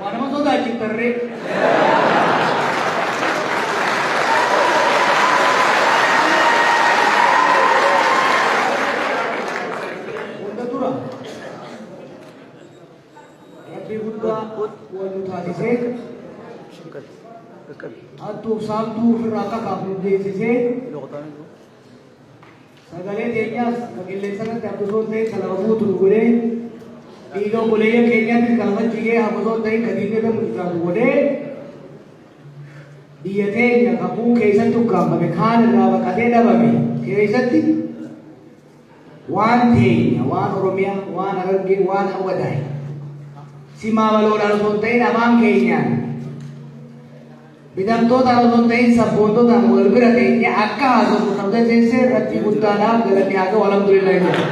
Waa nama sodaachiftan ree? Hunda dura Rabbi guddaa wal nu taasisee hattuuf saamtuu ofirraa akka kaafnu geessisee Sagalee teenyaas ka qilleensarratti akka osoo hin ta'in ka lafa guutu nu godhee, dhiiga obboleeyyan keenyaatiif ka lafa jigee hafa osoo hin ta'in ka diinni irra mucucaatu godhee, biyya teenya ka kuun keessatti ukkaamfame kaan irraa baqatee dhabame keessatti waan teenya, waan Oromiyaa, waan Harargee, waan Awwadaay simaa baloodhaan osoo hin ta'in afaan keenyaan Bitamtootaan osoo hin ta'iin sabboontootaan wal bira teenyee akka haasofnu kan tateessee Rabbii guddaadhaaf galanni haa ga'u alhamdulillah jedha.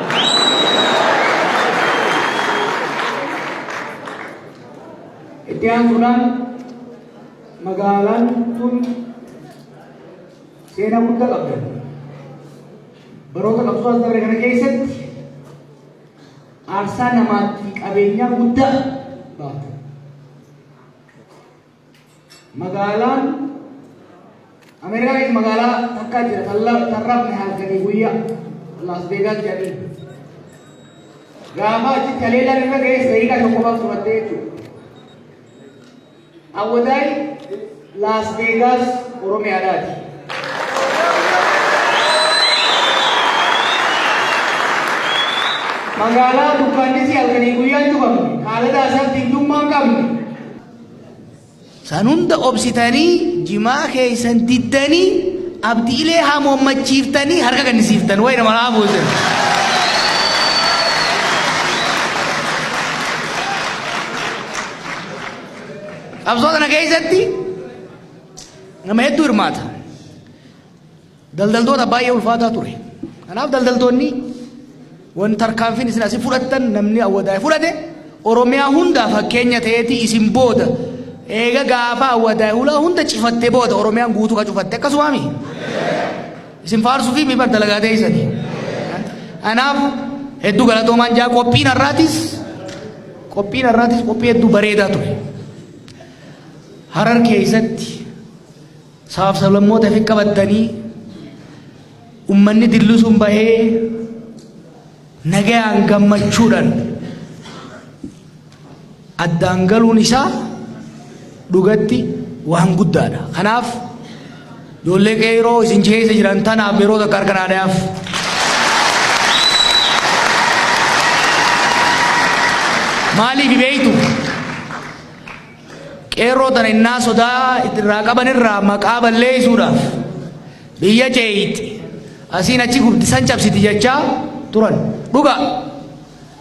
Itti aansuudhaan magaalaan tun seenaa guddaa qabda. Baroota qabsoo as dabre kana keessatti aarsaa namaatti qabeenyaa guddaa baafte. Magaalaan Ameerikaanis magaalaa takkaa jira tarrafne halkanii guyyaa Las Vegas jedhanii. Gaafa achi taleelaan irra ga'ee seeyiqaa tokko baaf fudhattee jechuudha. Awwadaay Las Vegas Oromiyaadhaati. Magaalaa dukkaannisii halkanii guyyaan cufamne haalata asaaf diintummaan qabne. San hunda obsitanii jimaa keessan diddanii abdiilee hamoommachiiftanii harka kennisiiftan wayna maraa buusan. Qabsoo sana keessatti nama hedduu hirmaata. Daldaltoota baay'ee ulfaataa ture. Kanaaf daldaltoonni wanti tarkaanfiin isin asi fudhattan namni awwadaa'e fudhate Oromiyaa hundaa fakkeenya ta'eeti isin booda eega gaafa awwadaa'e hulaa hunda cifatte booda Oromiyaan guutuu ka cufatte akkasumaami isin faarsuu fi mibar dalagaa ta'eessani. Kanaaf hedduu galatoomaan jaa qophiin har'aatis qophiin har'aatis qophii hedduu bareedaa ture. Harar keessatti Sabaaf sablammoota fi qabattanii ummanni dilluu sun bahee nagayaan gammachuudhaan addaan galuun isaa dhugatti waan guddaadha. Kanaaf ijoollee qeeroo isin keessa jiran tanaaf yeroo takka harka naa dhayaaf. Maaliif beektu? Qeerroo tana innaa sodaa itti irraa qaban irraa maqaa balleessuudhaaf biyya ceeyxi asiin achi gubdi san cabsiti jechaa turan. Dhugaa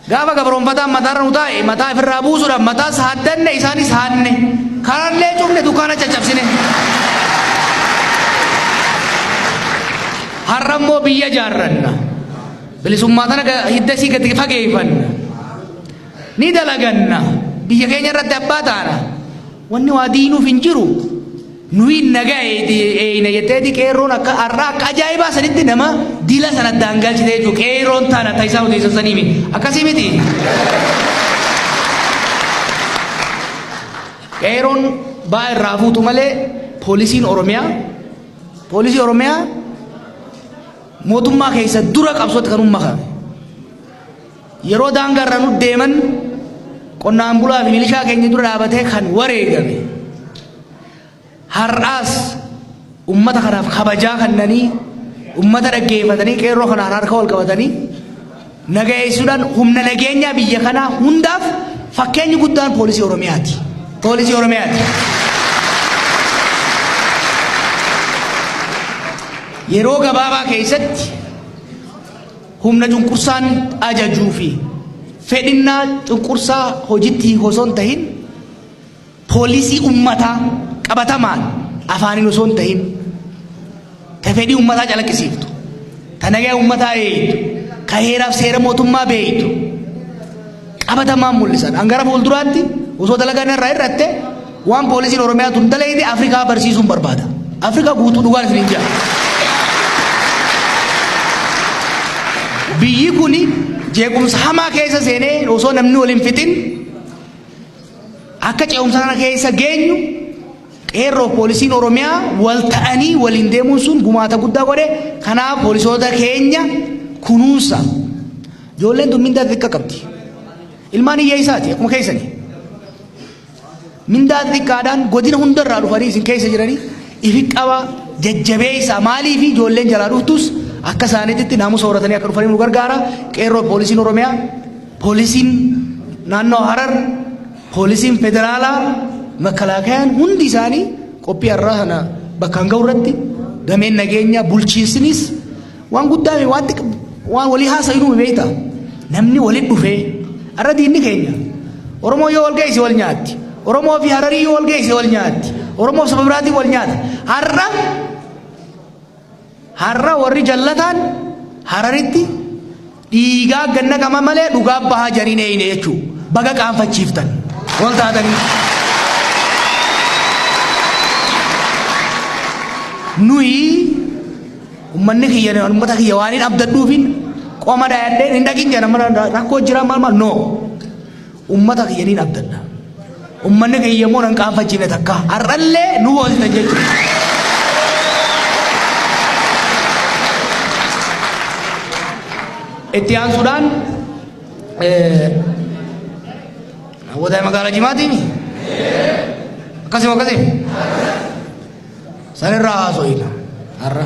gaafa gabroonfataan mataarra nu taa'e mataa ifirraa buusuudhaaf mataas haaddanne isaanis haadne karallee cufne dukkaana caccabsine. Har'a immoo biyya jaarranna. Bilisummaa tana hiddasii gadi fageeffanna. Ni dalaganna. Biyya keenya irratti abbaa taana. Wanni waa diinuuf hin jiru. Nuyi nagaa eeyna jetteeti qeerroon akka har'aa akka ajaa'ibaa sanitti nama dila sana addaan galchite jechuudha. Qeerroon taana ta'isaa odeessan sanii miti. Akkasii miti. Qeerroon baa irraa fuutu malee poolisiin Oromiyaa poolisii Oromiyaa mootummaa keessa dura qabsootti kan uummakan. Yeroo daangaa irra nu deeman qonnaan bulaa fi milishaa keenya dura dhaabatee kan wareegame har'aas ummata kanaaf kabajaa kannanii ummata dhaggeeffatanii qeerroo kanaan harka wal qabatanii nagayeessuudhaan humna nageenyaa biyya kanaa hundaaf fakkeenyi guddaan poolisii Oromiyaati. Poolisii Oromiyaati. Yeroo gabaabaa keessatti Humna cunqursaan ajajuu fi fedhinnaa cunqursaa hojitti hiiku osoo hin tahin poolisii ummataa qabatamaan afaaniin osoo hin tahin ta fedhii ummataa calaqqisiiftu ta nagaa ummataa eegdu ka heeraaf seera mootummaa beektu qabatamaan mul'isan. An gara fuulduraatti osoo dalagaa narraa hir'atte waan poolisiin Oromiyaa tun dalayde Afrikaa barsiisuun barbaada. Afrikaa guutuu dhugaan isiniin jira. Biyyi kun jeequmsa hamaa keessa seenee osoo namni wal hin fixin akka ce'umsa kana keessa geenyu qeerroo poolisiin Oromiyaa wal ta'anii waliin deemuun sun gumaata guddaa godhe. Kanaaf poolisoota keenya kunuunsa. Ijoolleen tun mindaa xiqqa qabdi. Ilmaan hiyyeessaati akkuma keessani. Mindaa xiqqaadhaan godina hundarraa dhufanii isin keessa jiranii ifi qaba jajjabeessaa maaliif ijoolleen jalaa dhuftus akka isaaniitti naamusa horatanii akka dhufanii nu gargaara qeerroo poolisiin Oromiyaa poolisiin naannoo Harar poolisiin federaalaa makalaakayaan hundi isaanii qophii har'aa kana bakkaan ga'u irratti dameen nageenyaa bulchiinsinis Waan guddaa mi waan xiqqa waan walii haasa'inu mi beekta namni walitti dhufee har'a diinni keenya Oromoo yoo wal geesse wal nyaatti Oromoo fi Hararii yoo wal geesse wal nyaatti Oromoo saba biraatiin wal nyaata har'a har'a warri jallataan Hararitti Dhiigaa gad naqama malee dhugaa bahaa jarii hin eeyne jechuu baga qaanfachiiftan wal taatanii. Nuyi ummanni kiyya ummata kiyya waan hin abdadhuufin qoma dhayadheen hin dhaqin jedhan mana rakkoo jira maal maal no. Ummata kiyya niin abdadha. Ummanni kiyya immoo nan qaanfachiifne takka. Har'allee nu boonsitan jechuudha. Itti aansuudhaan hawwataa magaalaa Jimaatiin akkasuma akkasii sanirraa haasoo hiika har'a.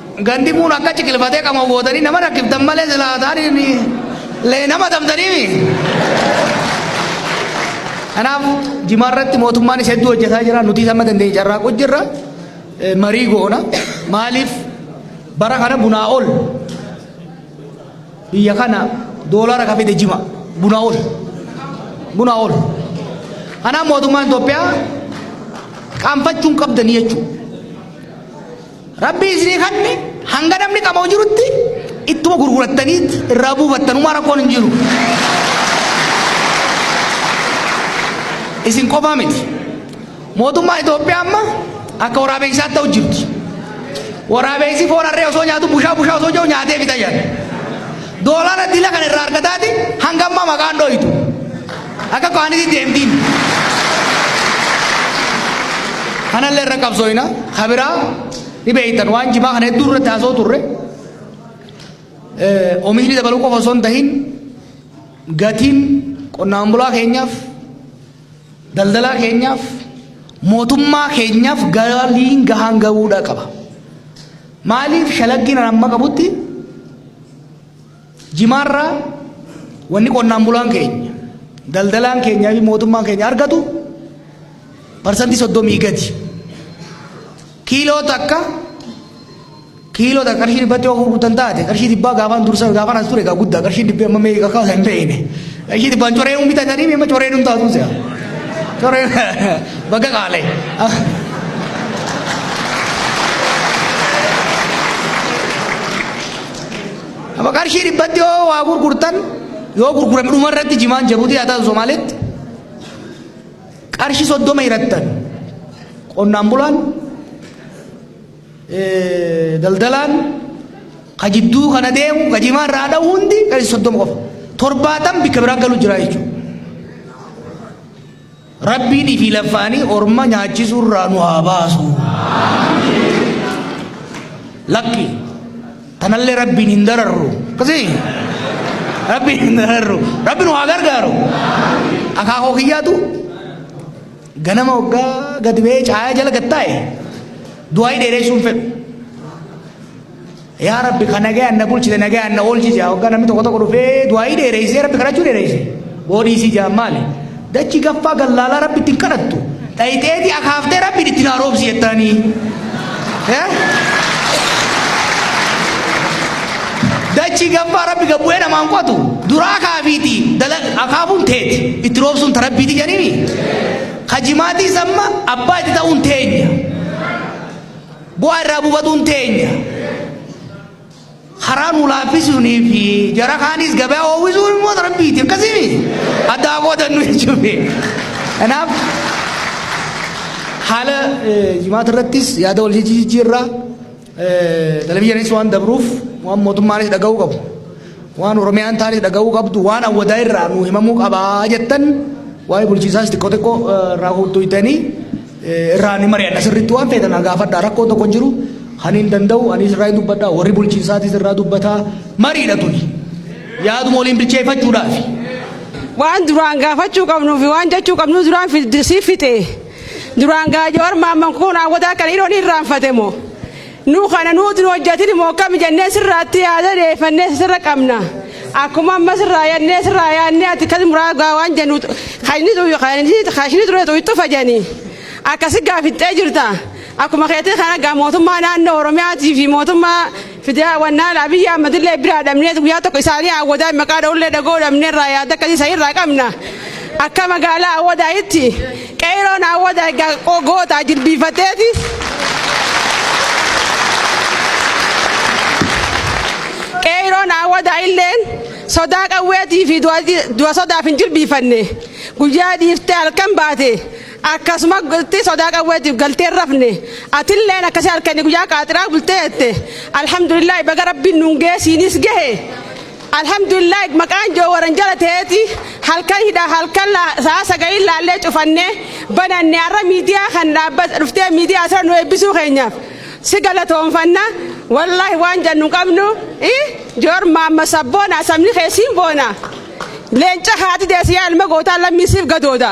Gandi kun akka ciqilfatee qama gootanii nama rakkiftan malee silaa taariin lee nama dabdaniimi. Kanaaf jimaa irratti mootummaanis hedduu hojjetaa jira. Nuti sama dandeenye carraaquu jirra. Marii goona. Maaliif bara kana bunaa ol biyya kana doolaara ka fide jima bunaa ol bunaa ol. Kanaaf mootummaan Itoophiyaa qaanfachuun qabdanii jechuudha. Rabbii isinii kanne hanga namni qaboo jirutti ittuma gurgurattaniit irraa buufattanumaa rakkoon hin jiru. Isin qofaa miti. Mootummaa Itoophiyaa amma akka waraabeessaatti ta'u jirti. Waraabeessi foon harree osoo nyaatu bushaa bushaa osoo jiru nyaatee fita jedha. Doolaara dila kana irraa argataati hanga ammaa maqaan dhooytu. Akka kaaniti deemtiin. Kanallee irra qabsooyna. Kabiraa ni beektan waan jimaa kana hedduu irratti haasoo turre. Oomishni dabaluu qofa osoo hin tahin gatiin qonnaan bulaa keenyaaf daldalaa keenyaaf mootummaa keenyaaf galiin gahaan gahuudha qaba. Maaliif shalaggiin amma qabutti Jimaarraa wanni qonnaan bulaan keenya, daldalaan keenyaa fi mootummaan keenya argatu parsantii soddomii gadi. Kiiloo takka kiiloo takka qarshii dhibbatti yoo gurgurtan taate qarshii dhibbaa gaafaan dursa gaafaan as ture egaa guddaa qarshii dhibbi amma meeqa akka hin beekne qarshii dhibbaan coree hin bitatanii meemma coree hin taatu se'a. Coree bakka qaalee. Lafa qarshii dhibbatti yoo waa gurgurtan yoo gurgurame dhuma irratti jimaan jabuutii haa taatu Somaaleetti qarshii soddoma hirattan qonnaan bulaan daldalaan ka jidduu kana deemu ka jimaa irraa dha'u hundi qarshii soddoma qofa torbaatan bikka biraa galu jira jechuudha. Rabbiin fi laffaanii orma nyaachisuu irraa nu haa baasu. Lakki tanallee rabbiin hin dararru. Akkasii rabbiin hin dararru. Rabbi nu haa gargaaru. Akaakoo kiyyaatu ganama waggaa gadi ba'ee caayaa jala gad taa'e du'aa dheeressuun fedhu. Yaa Rabbi ka nagayaan na bulchite nagayaan na oolchi jaa waggaa namni tokko tokko dhufee du'aayii dheereessee Rabbi kadhachuu dheereesse boodii isii jaa maali dachi gaffaa gallaalaa Rabbi ittiin kadhattu dhayixeeti akaaftee Rabbi itti naa roobsi jettaanii dachi gaffaa Rabbi gabbu'ee namaan qotu duraa kaafiiti akaafuun teeti itti roobsuun ta Rabbiiti jedhini ka jimaatii samma abbaa itti ta'uun teenya. Bu'aa irraa bubatuun teenya karaa nu laaffisuunii fi jara kaanis gabaa oowwisuun immoo rabbiiti akkasimi addaa qoodannu jechuudha. Kanaaf haala jimaata irrattis yaada wal jijjiirraa televizyiinis waan dabruuf waan mootummaanis dhaga'uu qabu waan oromiyaan taanis dhaga'uu qabdu waan awwadaa irraa nu himamuu qabaa jettan waa'ee bulchiisaas xiqqoo xiqqoo irraa hojjetanii irraa ni mari'anna sirriitti waan feetan gaafadhaa rakkoo tokko hin jiru kan hin danda'u anis irraa hin dubbadha warri bulchiinsaatis irraa dubbataa mariidha tuni yaaduma waliin bilcheeffachuudhaafi. waan duraan gaafachuu qabnuu fi waan jechuu qabnu duraan siif fixee duraan gaajoo armaan mankuun hawwataa kan hidhoon irraanfate moo. Nu kana nuuti nu hojjetini moo akkami jennee sirraatti yaada deeffannee sirra qabna. Akkuma amma sirraa yannee sirraa yaannee ati kan muraa gaa waan jennu kan inni tu- kan inni kan ishni ture tu itti fajani. Akkasi gaa fixxee jirta. Akkuma keetii kana gaa mootummaa naannoo Oromiyaatii fi mootummaa fidaa wannaan Abiyyi Ahmadillee biraa dhabnee guyyaa tokko isaanii hawwadaa maqaa dha'ullee dhagoo dhabnee irraa yaada akkasii isa irraa qabna. Akka magaalaa hawwadaayitti Qeeyroon Awwadaa egaa qo- gootaa jilbiifateeti. Qeeyroon Awwadaa illeen sodaa qawweetii fi du'a ji- du'a sodaaf hin jilbiifanne. Guyyaa dhiiftee halkan baate akkasumatti sodaa qawweetiif galtee hin rafne. Atilleen akkasii halkanii guyyaa qaaxiraa bultee jette. Alhamdulillah baga rabbiin nuun geesiinis gahe. Alhamdulillahi maqaan joowaran jala teeti halkan hidha halkan la saa sagaliin laallee cufanne bananne har'a miidiyaa kan dhaabba dhuftee miidiyaa sana nu eebbisuu keenyaaf si galatoonfanna wallaahi waan jannu qabnu joor maamma sabboona sabni kee siin boona leenca haati deessi yaa ilma gootaa lammii siif gadooda.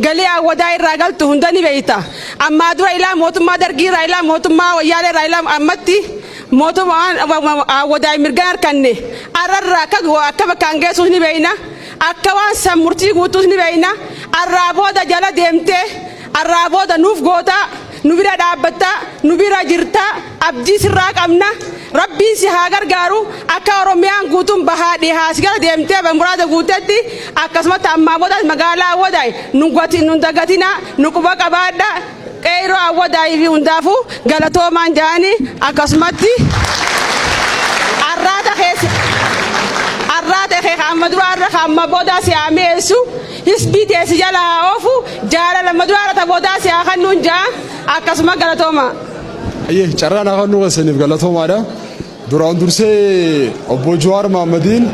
Galii Awwadaa irraa galtu hunda ni beekta. Ammaa dura ilaa mootummaa Dargii irraa ilaa mootummaa Wayyaalee irraa ilaa ammatti mootummaan Awwadaa hin mirgan harkanne arra irraa akka go- akka bakkaan geessuus ni beekna. Akka waan san murtii guutuus ni beekna. Arraa booda jala deemtee arraa booda nuuf gootaa nu bira dhaabbattaa nu bira jirtaa. Abdii sirraa qabna. Rabbiin si haa gargaaru. Akka Oromiyaan guutuun bahaa dhihaa si gara deemtee barmuraada guuttetti akkasumatti ammaa boodaas magaalaa Awwadaay nun gati- nun dagatina nu quba qabaadha. Qeeyroo Awwadaay fi hundaafuu galatoomaan jaani akkasumatti arraata keessa arraata kee ka amma duraa irra ka amma boodaa si haa mi'eessu hisbii tee si jala haa oofu jaalala amma duraa irra ta boodaa si haa kannuun jaa akkasuma galatoomaa. Ayyee carraa naaf hannuu keessaniif galatoomaadha. Duraan dursee obbo Jawaar Mahaammadiin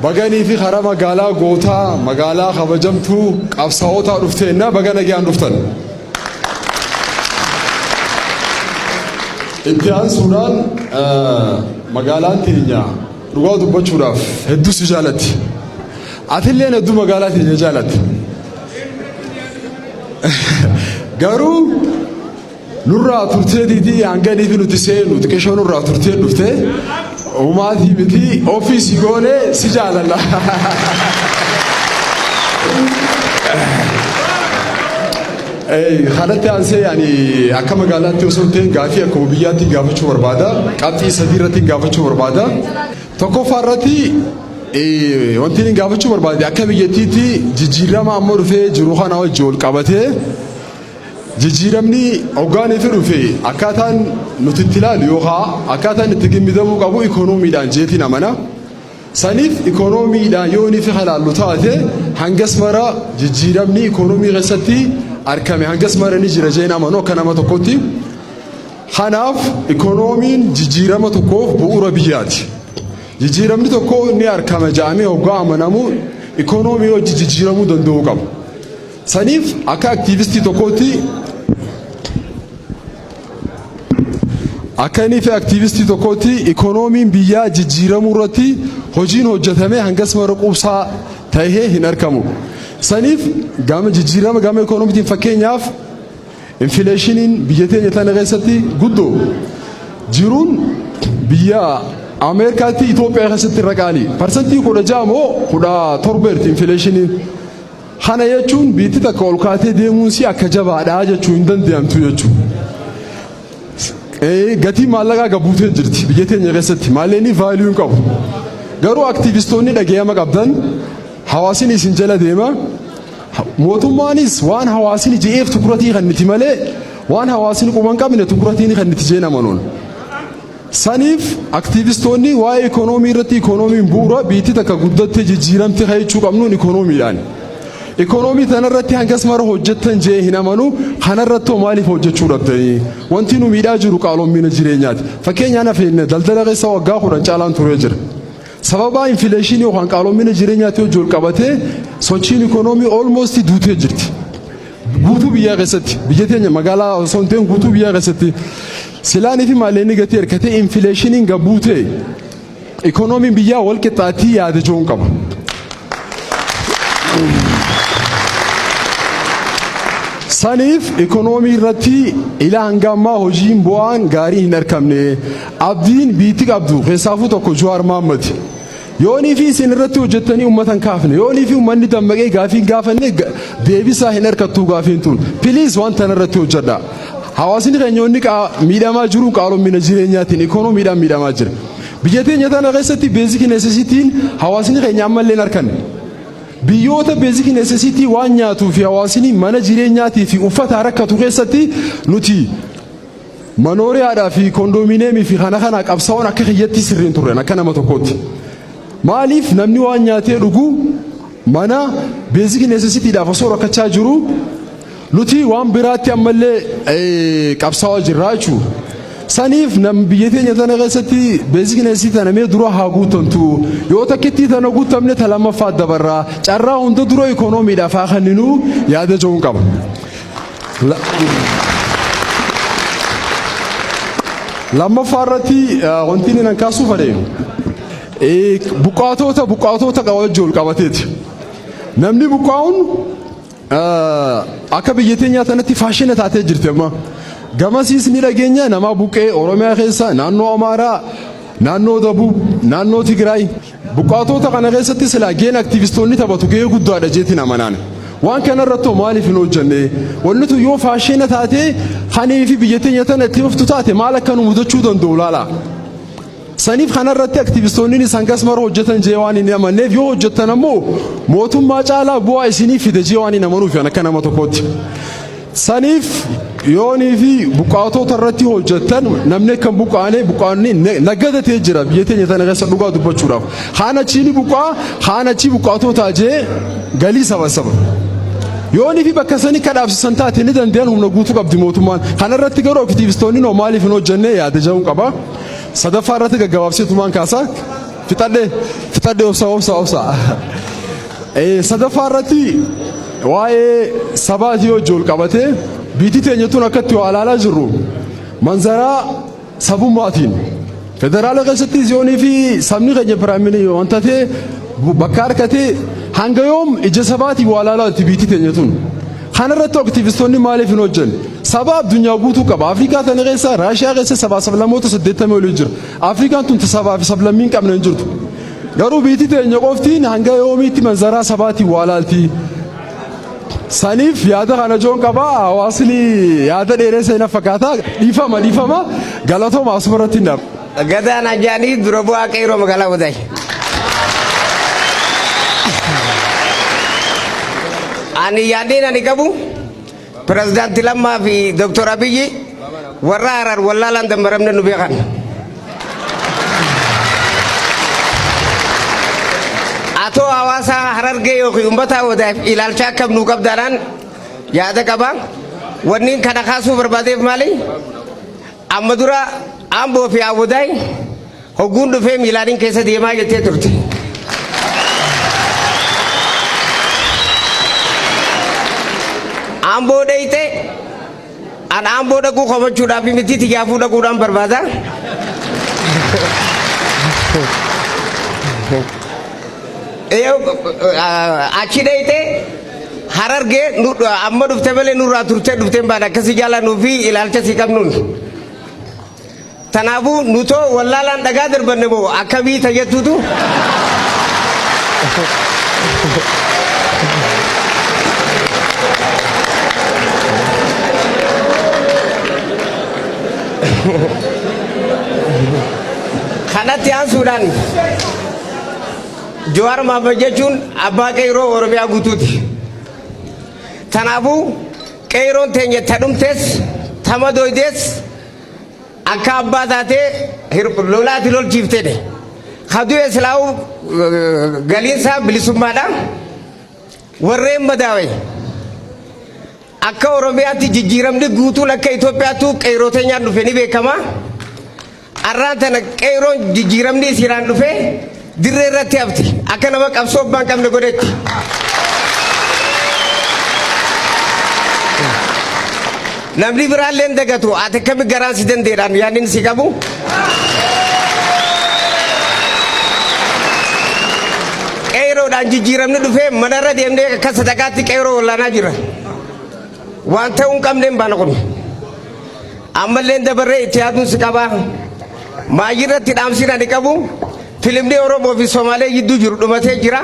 baganii fi karaa magaalaa gootaa magaalaa kabajamtuu qabsaa'otaa dhufteennaa baga nagaan dhuftan. Itti aansuudhaan magaalaan teenya dhugaa dubbachuudhaaf hedduu si jaalatti. Atillee hedduu magaalaa teenya jaalatti. Garuu Nurraa turtee diidii hangadii fi nuti seenu xiqqishoo nurraa turtee dhufte umaatii miti ofii si goone si jaalala. Kanatti aansee ani akka magaalaatti osoo hin ta'in gaafii akkuma biyyaatti gaafachuu barbaada. Qabxii sadii irratti gaafachuu barbaada. Tokkoffaa irratti wanti inni gaafachuu barbaade akka biyyattiitti jijjiirama amma dhufee jiru kana wajjin wal qabatee Jijjiiramni hoggaan itti dhufe akkaataan nuti itti ilaalu yookaan akkaataan itti gimmidamuu qabu ikoonomiidhaan jeetiin amana. Saniif ikoonomiidhaan yoo inni fi ilaallu taate hangas mara jijjiiramni ikoonomii keessatti argame hangas mara ni jira jeen amanu akka nama tokkotti. Kanaaf ikoonomiin jijjiirama tokkoof bu'uura biyyaati. Jijjiiramni tokko ni argama jedhamee hoggaa amanamu ikoonomiin hojii jijjiiramuu danda'uu qaba. Saniif akka aktiivistii tokkootti akka inni fi aktiivistii tokkootti ikoonomiin biyyaa jijjiiramuu irratti hojiin hojjetame hangas mara quubsaa ta'ee hin argamu. Saniif gama jijjiirama gama ikoonomiitiin fakkeenyaaf infileeshiniin biyya teenya tana keessatti guddoo jiruun biyya Ameerikaatti Itoophiyaa keessatti irra qaali. Parsantii kudha ja'a moo kudha torbeerti infileeshiniin. Kana jechuun biitti takka ol kaatee deemuunsii akka jabaadha jechuu hin danda'amtu jechuu. Gatiin maallaqaa gabuutee jirti biyya teenya keessatti maalleenii vaaliyuu hin qabu. Garuu aktiivistoonni dhaga'ama qabdan hawaasni isin jala deema. Mootummaanis waan hawaasni je'eef tukuratii kan niti malee waan hawaasni quban qabne tukuratiin kan niti jeen amanuun. Saniif aktiivistoonni waa'ee ikoonoomii irratti ikoonoomiin bu'uura biitti takka guddatte jijjiiramte ka jechuu qabnuun ikoonoomiidhaani. Ikonoomii tanarratti hangas mara hojjettan je'ee hin amanu kanarrattoo maaliif hojjechuu dhabdanii? Wanti nu miidhaa jiru qaaloomina jireenyaati. Fakkeenyaan hafeenne daldala keessa waggaa kudhan caalaan turee jira. Sababaa infileeshinii yookaan qaaloomina jireenyaatti hojji ol qabatee sochiin ikonoomii almost duutee jirti. Guutuu biyyaa keessatti biyya teenya magaalaa osoo hin ta'in guutuu biyyaa keessatti silaanii fi maalleenni gatii hirkatee infileeshiniin gad buutee ikoonomiin biyyaa wal qixxaatii yaada jiruun qaba. Saniif ikoonoomii irratti ilaa hanga ammaa hojiin bu'aan gaarii hin argamne abdiin biitti qabdu keessaafuu tokko Jawaar Mahaammad. Yoonii fi isin irratti hojjettanii uummata hin kaafne yoonii fi uummanni dammaqee gaafii hin gaafanne ga- deebisaa hin harkattuu gaafiin tun piliis waan tana irratti hojjedha hawaasni keenya inni qaa- miidhamaa jiru qaaloomina jireenyaatiin ikoonomiidhaan miidhamaa jira biyya teenya tana keessatti beeziki neesesitiin hawaasni keenya ammallee hin harkanne biyyoota beeziki neesesitii waan nyaatuu fi hawaasni mana jireenyaatii fi uffata rakkatu keessatti nuti Manooriyaadhaa fi kondomineemii fi kana kana qabsaa'oon akka kiyyatti sirriin turren akka nama tokkootti. Maaliif namni waan nyaatee dhuguu mana beeziki neesesitiidhaaf osoo rakkachaa jiruu nuti waan biraatti ammallee qabsaa'aa jirraa jechuudha. Saniif nam biyya teenya tana keessatti beeziki neesesitii tana mee dura haa guuttantu yoo takkittii tana guuttamne ta lammaffaa dabarraa carraa hunda dura ikoonomiidhaaf haa kenninuu yaada ja'uun qaba. Lammaffaa irratti wanti inni nan kaasuu fadhe buqqaatoota buqqaatoota wajjin wal qabateeti. Namni buqqaa'uun akka biyya teenyaa sanatti faashina taatee jirti amma. Gamasiis ni dhageenya namaa buqqee Oromiyaa keessa naannoo Amaaraa naannoo Dabuu naannoo Tigraay. Buqqaatoota kana keessatti silaa gaheen aktiivistoonni taphatu gahee guddaadha jeetiin amanaan. Waan kanarratti hoo maaliif hin hojjanne? Wanni tun yoo faasheena taatee kanii fi biyya teenya tana itti fuftu taate maal akka nu mudachuu danda'u laala. Saniif kanarratti aktiivistoonninis hangas mara hojjetan jee waan hin amanneef yoo hojjettan ammoo mootummaa caalaa bu'aa isiniif fida jee waan hin amanuuf an akka nama tokkootti. Saniif yoonii fi buqqaatoota irratti hojjettan namni akka hin buqqaane buqqaanni na- nagada ta'ee jira biyya teenya tana keessa dhugaa dubbachuudhaaf. Kaan achii ni buqqaa, kaan achii buqqaatootaa jee galii sabasaba. Yoonii fi bakka sanii akka dhaabsisan taate ni danda'an humna guutuu qabdi mootummaan. Kana irratti garuu aktiivistoonni noo maaliif hin hojjenne yaada jedhuun qaba. Sadaffaa irratti gaggabaabsee tumaan kaasaa fixadhe fixadhe obsaa obsaa obsaa. Sadaffaa irratti waa'ee sabaati yoo ijool qabate biitti teenya tun akkatti waa ilaalaa jirru manzaraa sabummaatiin federaala keessatti ziyoonii fi sabni keenya piraamilii waan taate bakka harkate hanga yoom ija sabaatiin waa ilaalaa itti biitti teenya tun. Kanarratti aktivistoonni maaliif hin hojjenne? Sabaa addunyaa guutuu qaba. Afrikaa tana keessa Raashiyaa keessa sabaa sablammoota saddeettamii olii jira. Afrikaan tun sabaa fi sablammii hin qabne hin jirtu. Garuu biitii teenya qoftiin hanga yoomiitti manzaraa sabaatiin waa laaltii? Saniif yaada kana joon qaba hawaasni yaada dheeressee na fakkaata dhiifama dhiifama galatooma asuma irratti hin dhaaba. Gadaan Ajaanii dura bu'aa qeerroo magaalaa Wadaay. Ani yaadeen ani qabu Pirezidaanti Lammaa fi Dooktor Abiyyi warra Harar wallaalaan dammaramne nu beekan. Atoo hawaasaa Harargee yookiin uummataa wadaaf ilaalcha akkam nuu qabdaanaan yaada qaba. Wanniin kana kaasuu barbaadeef maali? Amma dura Amboo fi Awwadaay hogguun dhufee miilaanin keessa deemaa jettee turte. Amboo dheyxe an Amboo dhaquu komachuudhaaf miti tijaafuu dhaquudhaan barbaada. Achi dheyxe Harargee nu amma dhufte malee nurraa turtee dhufte hin baane akkasii jaalannuu fi ilaalcha sii qabnuun. Tanaafuu nutoo wallaalaan dhagaa darbanne moo akkamii ta jettuutu. Kanatti aansuudhaan. Jawaar Mohaammed jechuun abbaa qeyroo Oromiyaa guutuuti. Tanaafuu qeyroon teenya ta dhumtes ta madooydes akka abbaa taatee lolaati lolchiiftedhe. Ka du'e silaa'uu galiinsaa bilisummaadha. Warreen madaawe akka Oromiyaatti jijjiiramni guutuun akka Itoophiyaattuu qeyroo teenyaan dhufe ni beekama. Arraa tana qeeyroon jijjiiramni isiiraan dhufee dirree irratti hafti. Akka nama qabsoo abbaa hin qabne godhetti. Namni biraallee hin dagatu. Ati akkami garaan si dandeedhaan yaadni inni si qabu. Qeeyroodhaan jijjiiramni dhufee manarra deemnee akka sadaqaatti qeeyroo wallaanaa jira. Waan ta'uu hin qabneen baana kun. Ammallee dabarree itti yaaduun si qabaa. Maayyii irratti dhaamsiin ani qabu filimni Oromoo fi Somaalee gidduu jiru dhumatee jira.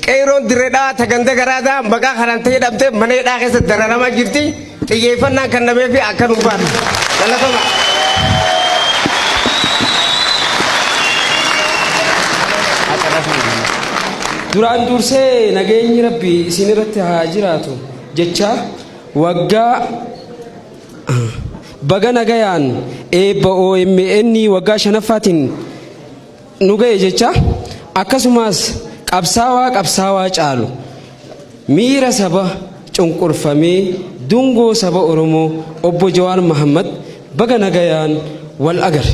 Qeeroon dirree dhawaa taganda garaadaa maqaa kanaan ta'ee dhabdee mana hidhaa keessa dararamaa jirti. Xiyyeeffannaan kan namee fi akka nuu baatu. Galatoma. Duraan dursee nageenyi rabbi isin irratti haa jiraatu. jecha waggaa baga nagayaan eebba OMN waggaa shanaffaatiin nu ga'e jecha akkasumas qabsaawaa qabsaawaa caalu miira saba cunqurfamee dungoo saba Oromoo obbo Jawaar Mahammad Baga nagayaan wal agare.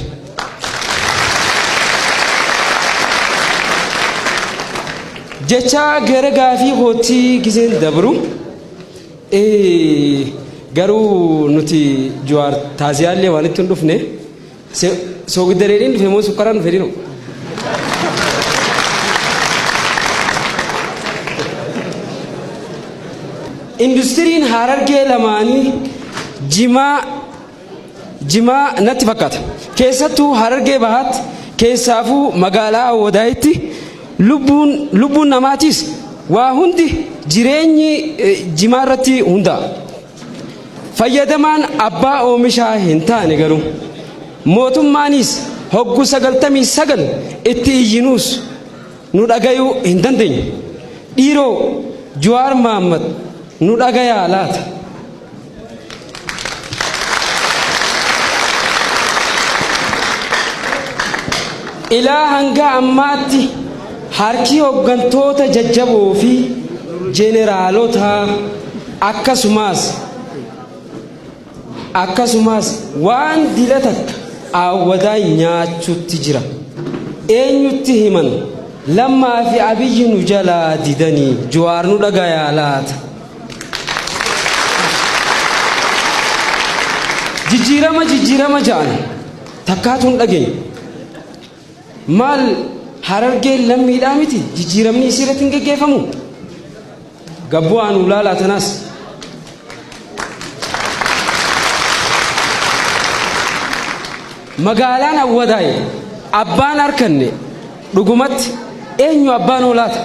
Jechaa gara gaafii kootti gizeen dabru garuu nuti Jawaar taaziyaallee waan itti hin dhufne soogiddareedhiin dhufe moo sukkaraan dhufe dhiru. Industiriin Harargee lamaanii jimaa jimaa natti fakkaata. Keessattuu Harargee Bahaatti keessaafuu magaalaa Awwadaayitti lubbuun lubbuun namaatiis waa hundi jireenyi eh, jimaa irratti hundaa'a. Fayyadamaan abbaa oomishaa hin taane garuu mootummaanis hoggu 99 itti iyyinuus nu dhagayuu hin dandeenyu. Dhiiroo Juwaar Mahaammad nu dhagayaa laata? Ilaa hanga ammaatti harki hooggantoota jajjaboo fi jeneraalota akkasumas Akkasumaas waan dila takka aawwadaan nyaachutti jira. Eenyutti himan? Lammaa fi Abiyyi nu jalaa didanii Juwaar nu dhagayaa laata? Jijjiirama jijjiirama ja'an takkaatu hin dhageenye. Maal Harargeen lammiidhaa miti jijjiiramni isii irratti hin geggeeffamu? Gabboo anu laalaa tanaas. Magaalaan Awwadaay abbaan harkanne dhugumatti eenyu abbaan hoolaata?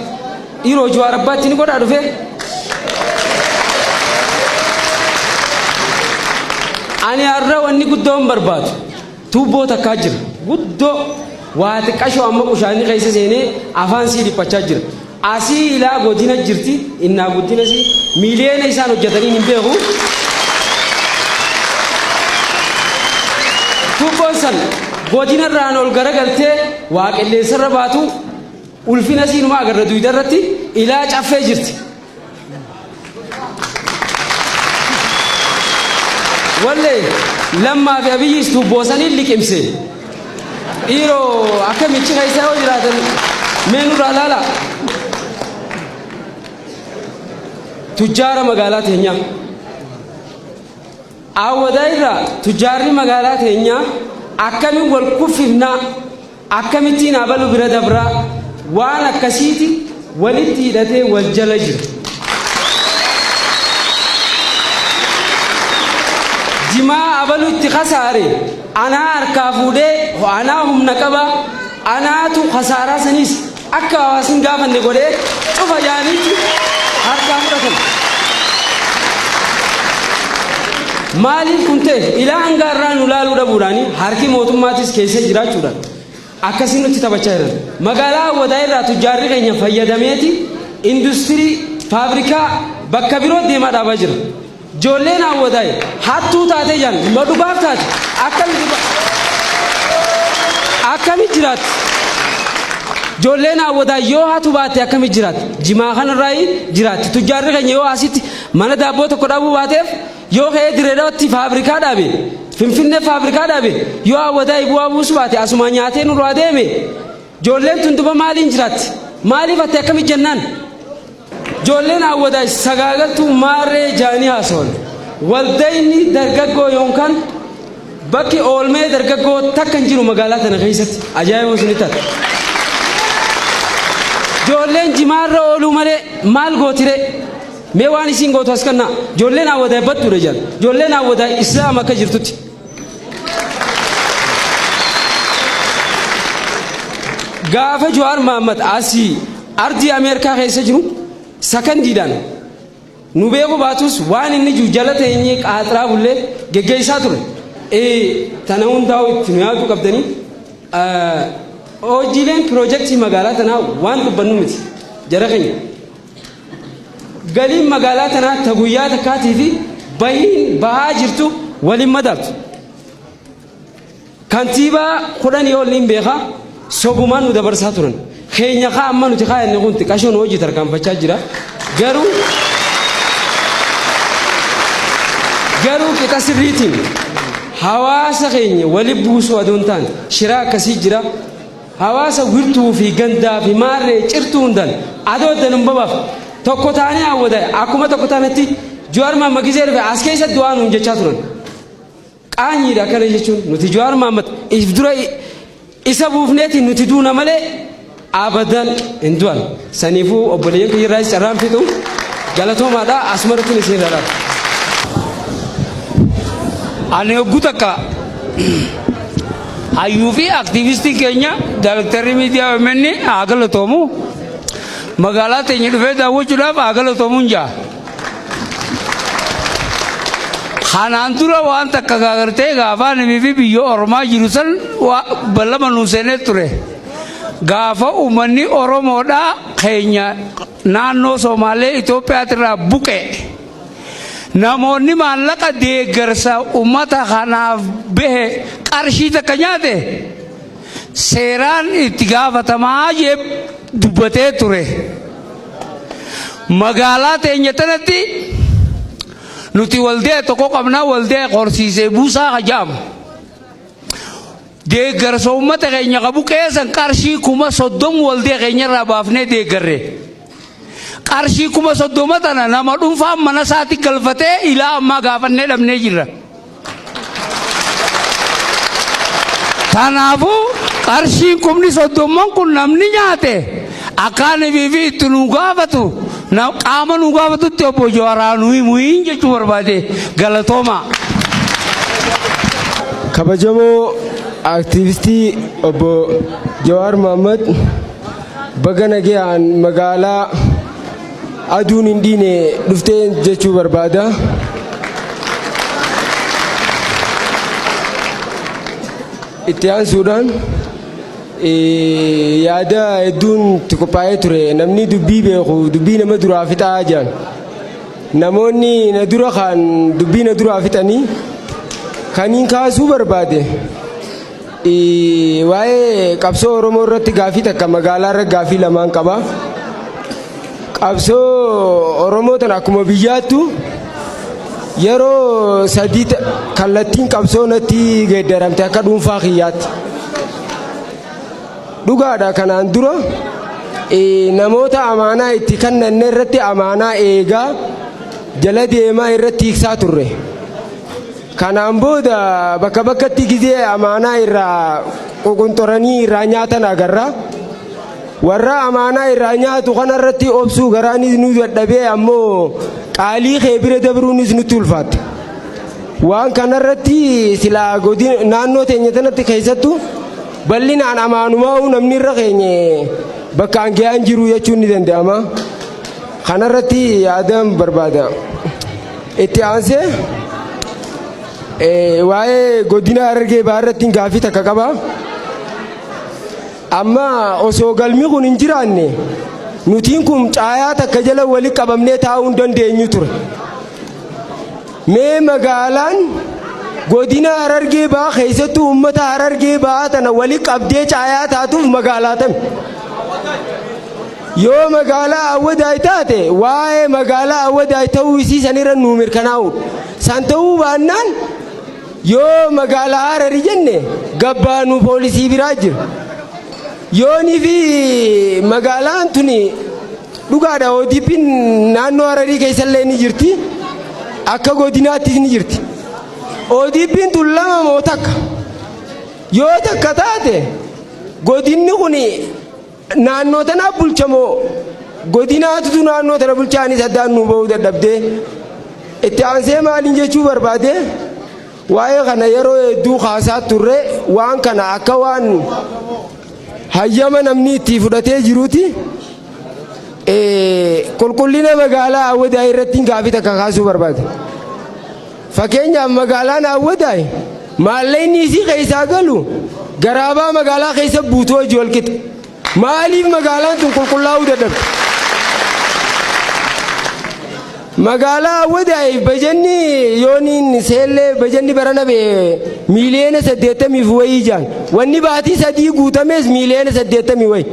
Dhiiroo Jawaar abbaatti ni godhaa dhufee? Ani har'a wanni guddoon barbaadu. Tuubboo takkaa jira. Guddoo waa xiqqashoo amma qushaanni keessa seenee afaan sii dhiphachaa jira. Asii ilaa godina jirti innaa guddina sii miiliyoona isaan hojjetaniin hin beeku. Tuubboon san godina irraan ol garagaltee waa qilleensarra baatu ulfina siinumaa agarra duyda irratti ilaa caffee jirti. Wallee lammaa fi abiyyiis tuubboo saniin liqimse. Dhiiroo akka michi keessaa yoo jiraatan mee nurraa laala. Tujjaara magaalaa teenyaa. Awwadaa irraa tujjaarri magaalaa teenyaa akkamiin wal kuffifnaa Akkamittiin abalu bira dabraa waan akkasiiti walitti hidhatee wal jala jira. Jimaa abalu itti kasaare anaa harkaa fuudhee anaa humna qaba anaatu kasaaraa saniis akka hawaasi hin gaafanne godhee cufa yaamiichi harkaa fudhatame. Maaliif kun ta'e ilaa hanga irraa nu laaluu dhabuudhaan harki mootummaatis keessa jiraachuudhaan akkasii nutti taphachaa jiran. Magaalaa hawwataa irraa tujjaarri keenya fayyadameeti industirii faabrikaa bakka biroo deemaa dhaabaa jira. Joolleen Awwadaay hattuu taatee jaan ma dhugaaf taate akkami dhuga akkami jiraatti Joolleen Awwadaay yoo hatu baatte akkami jiraatti jimaa kanarraayi jiraatti tujjaarri keenya yoo asitti mana daabboo tokko dhabuu baateef yoo ka'ee direedawatti faabrikaa dhaabe finfinnee faabrikaa dhaabe yoo Awwadaay bu'aa buusu baate asumaa nyaatee nurraa deeme joolleen tun duba maaliin jiraatti maaliif atti akkami jennaan Ijoolleen Awwadaay sagaagaltuu maarree jaanii haasawan. Waldayni dargaggoo yoonkaan bakki oolmee dargaggoo takka hin jiru magaalaa tana keessatti ajaa'ibuu isin taate. Ijoolleen jimaarra ooluu malee maal gootire mee waan isiin gootu as kannaa ijoolleen Awwadaay battuudha jedhan ijoolleen Awwadaay islaama akka jirtutti. Gaafa Jawaar Mahammad asii ardii Ameerikaa keessa jiru sakandiidhaan nu beeku baatus waan inni jiru jala teenyee qaaxraa bullee geggeessaa ture. Ee tana hundaa'u itti nu yaaduu qabdanii hojiileen piroojeektii magaalaa tanaa waan dubbannu miti jara keenya. Galiin magaalaa tanaa ta guyyaa takkaatii fi bahiin bahaa jirtu waliin madaaltu. Kantiibaa kudhanii ol niin beeka sobumaan nu dabarsaa turan. Keenya kaa amma nuti kaayanne kun xiqqashoon hojii tarkaanfachaa jira. Garuu garuu qixa sirriitiin hawaasa keenya wali buusuu adoon taane shiraa akkasii jira. Hawaasa wirtuu fi gandaa fi maarree cirtuu hundan adoo addan hin babaf tokko taanee hawwata akkuma tokko taanetti Jawaar Maamma gizee dhufe as keessa du'aa nuun jechaa turan. Qaanyiidha akkana jechuun nuti Jawaar Maammat if dura isa buufneeti nuti duuna malee abadan hin du'an. Saniifuu obboleeyyan kiyya irraas carraan fixu galatoomaadha asumarratti isin irraa dhaaba. Ani hogguu takka Hayyuu fi aktiivistii keenya daayrektarri miidiyaa OMN haa galatoomu. Magaalaa teenya dhufee daawwachuudhaaf haa galatoomuun jaa. Kanaan dura waan takka gaagartee gaafaa namii fi biyya ormaa jiru san ballama nuu seenee ture. Gaafa uummanni Oromoodhaa keenya naannoo Somaalee Itoophiyaatirraa buqe. Namoonni maallaqa deeggarsa ummata kanaaf bahe qarshii takka nyaate seeraan itti gaafatamaa jee dubbatee ture. Magaalaa teenya tanatti nuti waldee tokko qabna waldee horsiisee buusaa ka ja'amu. Deeggarsa ummata keenya qabu keessan qarshii kuma soddom waldee keenya irraa baafnee deeggarre. Qarshii kuma soddoma tana nama dhuunfaan mana isaatti galfatee ilaa ammaa gaafannee dhabnee jirra. Kanaafuu qarshiin kumni soddomman kun namni nyaate akkaan fi itti nu gaafatu qaama nu gaafatutti obbo Jawaraa nuyi muhiin jechuu barbaade galatoomaa. Kabajamoo aktiivistii obbo Jawaar Mohaammed. Baga nagayaan magaalaa aduun hin dhiine dhuftee jechuu barbaada. Itti aansuudhaan eh, yaada hedduun itti qophaa'ee ture namni dubbii beeku dubbii nama duraa fixaa jedhan. Namoonni na dura kaan dubbii na duraa fixanii kan hin kaasuu barbaade Waa'ee qabsoo Oromoo irratti gaafii takka magaalaa irra gaafii lamaan qaba. Qabsoo Oromoo tana akkuma biyyaattu yeroo sadii ta- kallattiin qabsoo natti geeddaramte akka dhuunfaa kiyyaatti. Dhugaadha kanaan dura eh, namoota amaanaa itti kennanne irratti amaanaa eegaa jala deemaa irratti hiiksaa turre. Kanaan booda bakka bakkatti gizee amaanaa irraa ququnxuranii irraa nyaatan agarra. Warra amaanaa irraa nyaatu kanarratti obsuu garaanis nu dadhabee ammoo qaalii kee bira dabruunis nutti ulfaatte. Waan kanarratti silaa godina naannoo teenya tanatti keessattu bal'inaan amaanumaa'uu namni irra keenye bakkaan ga'aan jiru jechuun ni danda'ama. Kanarratti yaadaan barbaada. Itti aansee eh, waa'ee godina Harargee Bahaa irratti gaaffii takka qaba. Amma osoo galmi kun hin jiraanne nutiin kun caayaa takka jala walitti qabamnee taa'uu hin dandeenyu ture. Mee magaalaan godina Harargee Bahaa keessattuu uummata Harargee Bahaa tana walitti qabdee caayaa taatuuf magaalaa tami. Yoo magaalaa Awwadaay taate waa'ee magaalaa Awwadaay ta'uu isii sanirra nuu mirkanaa'uudha. San ta'uu baannaan yoo magaalaa Harari jenne gabbaanu poolisii biraa jira. Yoonii fi magaalaan tuni dhugaadha ODP'n naannoo Hararii keessallee ni jirti. Akka godinaattis ni jirti. ODP'n tun lama moo takka? Yoo takka taate godinni kun Naannoo tana bulcha moo godinaatutu naannoo tana bulcha anis addaan nuu ba'uu dadhabdee itti aansee maaliin jechuu barbaade waa'ee kana yeroo hedduu kaasaa turre waan kana akka waan hayyama namni itti fudhatee jiruuti qulqullina magaalaa awwadaa irratti gaafii takka kaasuu barbaade. Fakkeenyaaf magaalaan Awwadaay maallaqni isii keessaa galu garaabaa magaalaa keessa buutu hojii walqixa. Maaliif magaalaan tun qulqullaa'uu dadhabde? Magaalaa Awwadaay bajanni yooniin seellee bajanni barana bee miiliyoona saddeettamiif wayii jaan. Wanni baatii sadii guutamees miiliyoona saddeettamii wayi.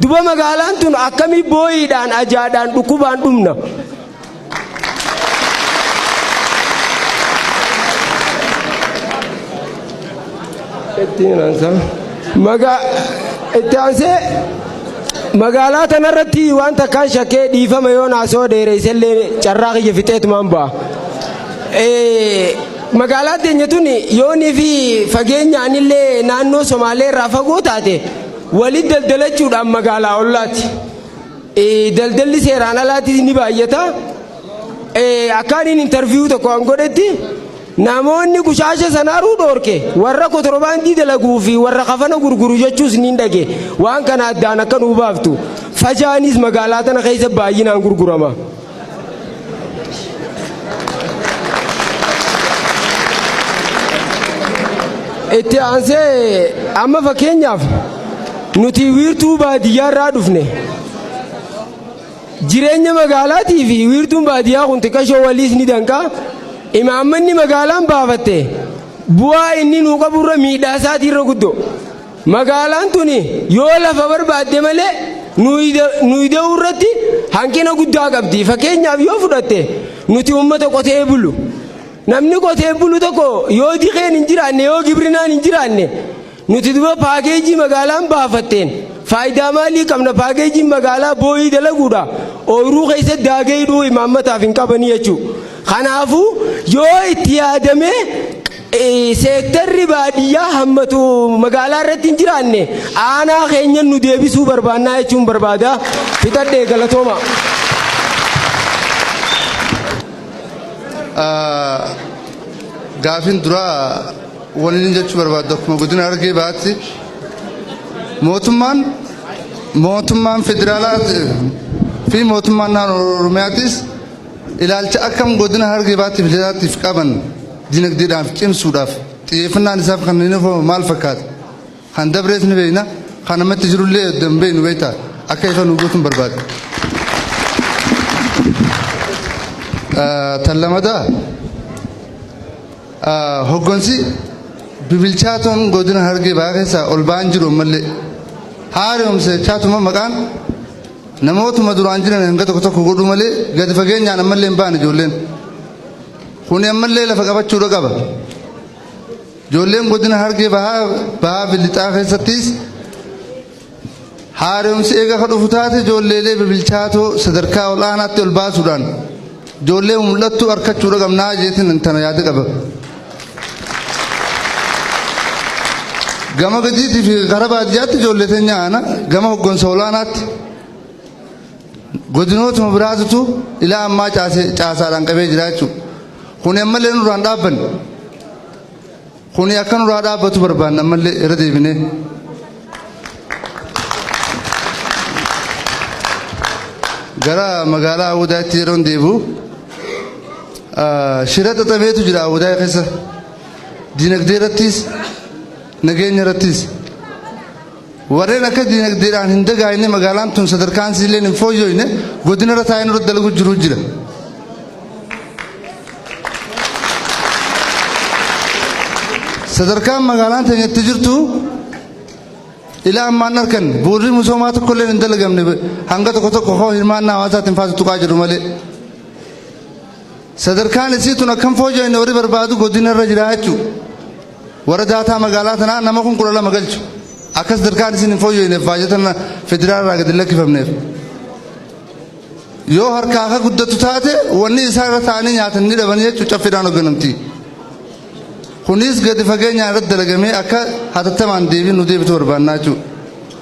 Duba magaalaan tun akkamii booyiidhaan ajaadhaan dhukkubaan dhumna. Magaa itti aansee magaalaa tanarratti waan takkaan shakkee dhiifama yoo naasoo dheeressellee carraa kiyya fixeetumaan ba'a. Magaalaa teenya tun yoonii fi fageenyaanillee naannoo Somaalee irraa fagoo taate walitti daldalachuudhaan magaalaa ollaati. Daldalli seeraan alaatis ni baay'ata. Akkaaniin intarviiyuu tokko an godhetti namoonni qushaasha sanaaruu dhoorke warra kotorbaandii dalaguu fi warra kafana gurguru jechuus niin dhage waan kana addaan akka nuu baaftu fajaanis magaalaa tana keessa baay'inaan gurgurama. itti aansee amma fakkeenyaaf nuti wiirtuu baadiyyaa irraa dhufne jireenya magaalaatii fi wiirtuun baadiyyaa kun xiqqashoo waliis ni danqaa imaammanni magaalaan baafatte bu'aa inni nuu qaburra miidhaa isaatii irra guddoo Magaalaan tuni yoo lafa barbaadde malee nuyi da'uu irratti hanqina guddaa qabdi. Fakkeenyaaf yoo fudhatte nuti uummata qotee bulu. Namni qotee bulu tokko yoo dikeen hin jiraanne yoo gibrinaan hin jiraanne nuti duba paakeejii magaalaan baafatteen faayidaa maalii qabna paakeejiin magaalaa booyii dalaguudha ooyiruu keessa daagee hidhuu imaammataaf hin qabanii jechuudha. Kanaafuu yoo itti yaadamee Seektarri baadiyyaa hammatu magaalaa irratti hin jiraanne aanaa keenyan nu deebisuu barbaannaa jechuun barbaada. Fixadhee galatooma. Gaafin duraa wanni jechuu barbaadu akkuma godina argee baatti mootummaan mootummaan federaalaa fi mootummaan naannoo Oromiyaatis Ilaalcha akkam Godina Harargee Bahaa tiif Lixaa tiif qaban dinagdeedhaan cimsuudhaaf xiyyeeffannaan isaaf kan hin hafoo maal fakkaata? Kan dabrees ni beekna, kan ammatti jiru illee edda hin beeknu beektaa? Akka ifa nuu gootuun barbaada. Tan lamataa hoggansi bibilchaatoon Godina Harargee Bahaa keessaa ol ba'aan jiru ammallee haaromsa chaatuma maqaan Namootuma duraan jiran hanga tokko tokko godhuu malee gadi fageenyaan ammallee hin baane ijoolleen. Kuni ammallee lafa qabachuudha qaba. Ijoolleen godina Hargee bahaa bahaa fi lixaa keessattis haaromsi eega ka dhufu taate ijoolleelee bibilchaatoo sadarkaa ol'aanaatti ol baasuudhaan Ijoollee mul'attuu arkachuudha qabnaa jeetin tana yaada qaba. Gama gadiitii fi gara baadiyyaatti ijoollee teenya aana gama hoggansa olaanaatti godinootuma biraatutu ilaa ammaa caasaadhaan qabee jira jechuudha. Kun ammallee nurraan dhaabbanne. Kuni akka nurraa dhaabbatu barbaanna ammallee irra deebinee. Gara magaalaa Awudaatti yeroon deebi'u shira xaxameetu jira Awudaa keessa. Dinagdee irrattis nageenya irrattis. Warreen akka dinagdeedhaan hin dagaagne magaalaan tun sadarkaan isiilleen hin fooyyooyne godinarra taa'ee nurratti dalagu jiru jira. Sadarkaan magaalaan teenya itti jirtu ilaa ammaan arkan bu'urri misoomaa tokkolleen hin dalagamne hanga tokko tokko hoo hirmaannaa hawaasaatiin faatu tuqaa jiru malee. Sadarkaan isii tun akkam fooyyooyne warri barbaadu godinarra jira jechuudha. Warra daataa magaalaa tanaa nama kun kudha lama galchu. Akka sadarkaan isin hin fooyyooyneef baajatan federaala irraa gad hin lakkifamneef. Yoo harkaa akka guddattu taate wanni isaan irra taa'anii nyaatan ni dhabanii jechuun caffeedhaan hoogganamti. Kunis gadi fageenyaan irratti dalagamee akka hatattamaan deebiin nu deebitu barbaannaa jechuudha.